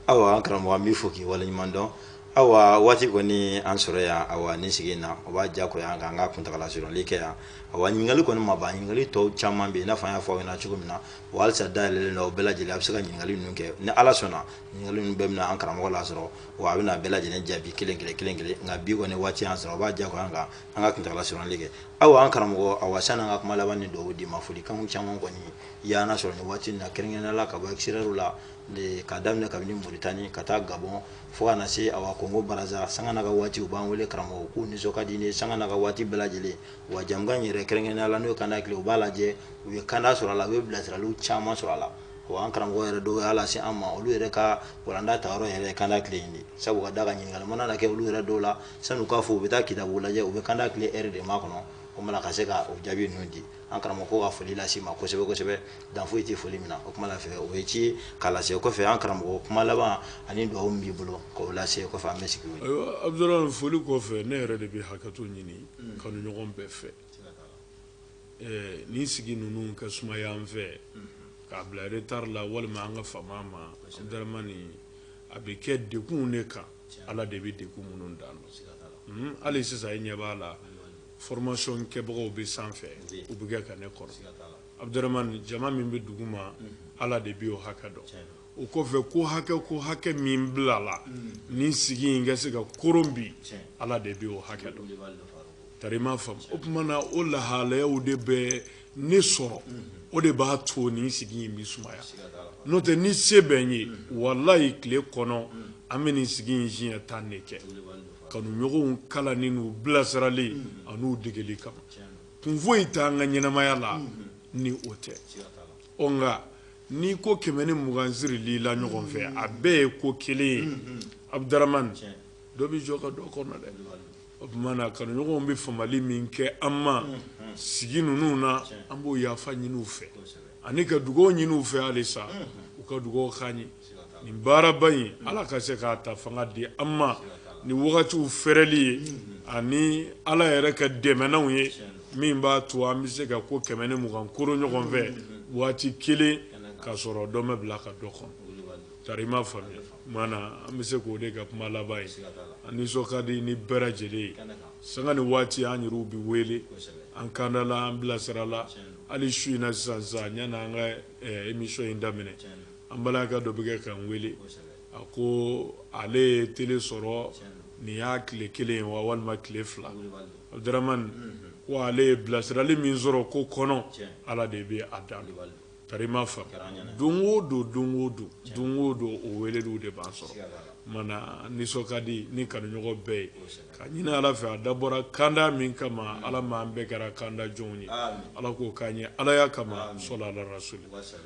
Speaker 2: awa an karamɔgɔ an b'i fo k'i waleɲuman dɔn awa waati kɔni an sɔrɔ yan awa nin sigi in na o b'a diyagoya an kan an ka kuntagala surunli kɛ yan awa ɲininkali kɔni ma ban ɲininkali tɔw caman bɛ yen i n'a fɔ an y'a fɔ aw ɲɛna cogo min na wa halisa dayɛlɛlen don o bɛɛ lajɛlen a bɛ se ka ɲininkali ninnu kɛ ni ala sɔnna ɲininkali ninnu bɛɛ bɛna an karamɔgɔ lasɔrɔ wa a bɛna bɛɛ lajɛlen jaabi kelen kelen kelen kelen nka bi kɔni waati y'an sɔrɔ o b'a diyagoya an kan an ka kuntagala surunli kɛ awa an karamɔgɔ awa sanni an ka kuma laban ni dugawu d'i ma folikanw caman kɔni y'an lasɔrɔ nin waati na kɛrɛnkɛrɛnnenya la ka bɔ extérieur la ka daminɛ kabini Mauritanie ka taa Gabon fo ka na se awa Congo Brazza sanga n'a ka waati u b'an wele karamɔgɔ k'u nisɔn ka di ni sanga n'a ka waati bɛɛ lajɛlen wa jɛmukan in yɛrɛ kɛrɛnkɛrɛnnenya la n'o ye kanda tile u b'a lajɛ u ye kanda sɔrɔ a la u ye bilasiraliw caman sɔrɔ a la wa an karamɔgɔ yɛrɛ dɔw y'a lase an ma olu yɛrɛ ka walanda tayɔrɔ yɛrɛ ye kanda tile in de sabu ka d'a kan ɲininkali mana na kɛ olu yɛrɛ dɔw la san'u k'a fɔ u bɛ taa kitabu lajɛ u bɛ kanda tile heure de makɔnɔ o mana ka se ka o jaabi ninnu di an karamɔgɔ ko ka foli lase i ma kosɛbɛ kosɛbɛ dan foyi tɛ foli min na o kuma la fɛ o ye ci ye k'a lase kɔfɛ an karamɔgɔ kuma laban ani dugawu min b'i bolo k'o lase kɔfɛ an bɛ sigi o ye. ayiwa abudurahmani foli
Speaker 3: kɔfɛ ne yɛrɛ de bɛ hakɛto ɲini mm. kanuɲɔgɔn bɛɛ fɛ eh, nin sigi ninnu ka sumaya an fɛ mm. k'a bila retard la walima an ka fama ma abudurahmani a bɛ kɛ degunw de kan ala de bɛ degun minnu dan dɔn mm, hali sisan i ɲɛ b'a la. formation kɛbagaw bɛ sanfɛ u bɛ kɛ ka ne kɔnɔ abudurahmani jama min bɛ duguma ala de bɛ o hakɛ dɔn o kɔfɛ ko hakɛ ko hakɛ min bilala nin sigi in ka se ka koron bi ala de bɛ o hakɛ dɔn tari i m'a faamu o tuma na o lahalayaw de bɛ ne sɔrɔ o de b'a to nin sigi in bɛ sumaya n'o tɛ ni se bɛ n ye walayi tile kɔnɔ an bɛ nin sigi in siɲɛ tan de kɛ kanuɲɔgɔnw kalanni n'u bilasirali an'u degeli kama kun foyi t'an ka ɲɛnamaya la ni o tɛ ɔ nka ni ko kɛmɛ ni mugan sirili la ɲɔgɔn fɛ a bɛɛ ye ko kelen ye abudurahmani dɔ bɛ jɔ ka dɔ kɔnɔ dɛ o tuma na kanuɲɔgɔnw bɛ famali min kɛ an ma sigi ninnu na an b'o yafa ɲini u fɛ ani ka dugawu ɲini u fɛ halisa u ka dugawu k'an ye nin baaraba in ala ka se k'a ta fanga di an ma ni wagatiw fɛrɛli ye ani ala yɛrɛ ka dɛmɛnanw ye min b'a to an bɛ se ka ko kɛmɛ ni mugan koro ɲɔgɔn fɛ waati kelen ka sɔrɔ dɔ ma bila ka dɔ kɔnɔ tari ma faamuya mana an bɛ se k'o de ka kuma laban ye an nisɔn ka di ni bɛɛ lajɛlen ye sanga ni waati an yɛrɛw bɛ wele an kanda la an bilasira la hali su in na sisan sisan yanni an ka emisɔn in daminɛ an balimakɛ dɔ bɛ kɛ k'an wele a ko ale ye tele sɔrɔ nin y'a tile kelen ye wa walima tile fila abudramani ko ale ye bilasirali min sɔrɔ ko kɔnɔ ala de bɛ a dan tari ma faamu don o don don o don don o don o weleliw de b'an sɔrɔ mana nisɔn ka di ni kanuɲɔgɔn bɛɛ ye ka ɲini ala fɛ a dabɔra kanda min kama ala ma an bɛɛ kɛra kanda jɔnw ye ala k'o k'an ye alaya kama sɔli ala rasul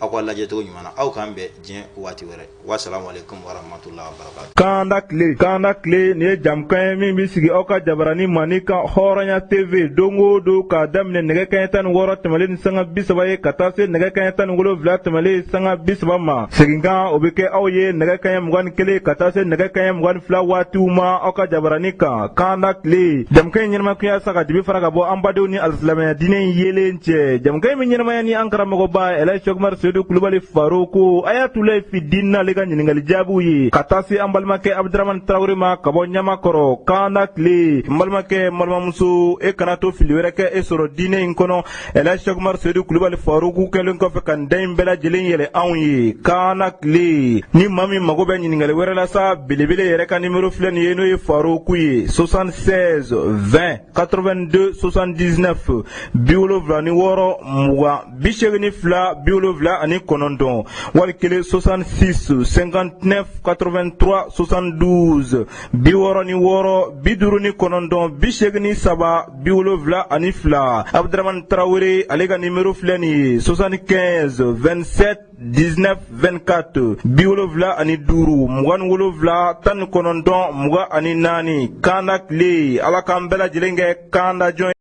Speaker 2: aw ka lajɛcogo ɲuman na aw k'an bɛn diɲɛ waati wɛrɛ wasalaamualekum warahmatullahi wabarakatuh kanda tile kanda
Speaker 1: tile nin ye jamukan ye min bɛ sigi aw ka jabarani mandi kan hɔrɔnya tv don o don k'a daminɛ nɛgɛ kanɲɛ tan ni wɔɔrɔ tɛmɛlen ni sanga bi saba ye ka taa se nɛgɛ kanɲɛ tan ni wolonwula tɛmɛlen sanga bi saba ma seginkan o bɛ kɛ aw ye nɛgɛ kanɲɛ mugan ni kelen ka taa se nɛgɛ kanɲɛ mugan ni fila waatiw ma aw ka jabarani kan kanda tile jamukan in ɲɛnamaya kun ye sa ka dibi fara ka bɔ an badenw ni alisilamɛya diinɛ in yeelen cɛ jamukan in bɛ ɲɛnamaya ni an karamɔgɔba ɛlɛji sɛkumari sedu kulubali faroku ayatulayi fidini n'ale ka ɲininkali jaabiw ye ka taa se an balimakɛ abudramani tarawele ma ka bɔ ɲamakɔrɔ kanda tile n balimakɛ n balimamuso e kana to fili wɛrɛ kɛ e sɔrɔ diinɛ in kɔnɔ ɛlɛji sɛkumari sedu kulubali faroku kɛlen kɔfɛ ka da in bɛɛ lajɛlen yɛlɛ anw ye kanda tile ni maa min mago bɛ ɲininkali wɛrɛ la sa belebele yɛrɛ ka nimero filɛ nin ye n'o ye faroku ye 76 20 82 79 bi wolonwula ni wɔɔrɔ mugan bi seegin ni fila bi wolonwula ani kɔnɔntɔn wali kelen soixante six cinquante neuf quatre vingt trois soixante douze bi wɔɔrɔ ni wɔɔrɔ bi duuru ni kɔnɔntɔn bi seegin ni saba bi wolonwula ani fila abudaramani tarawele ale ka nimero filɛ nin ye soixante quinze vingt sept 19 24 bi wolonwula ani duuru mugan ni wolonwula tan ni kɔnɔntɔn mugan ani naani kanda tile ala k'an bɛɛ lajɛlen kɛ kanda jɔn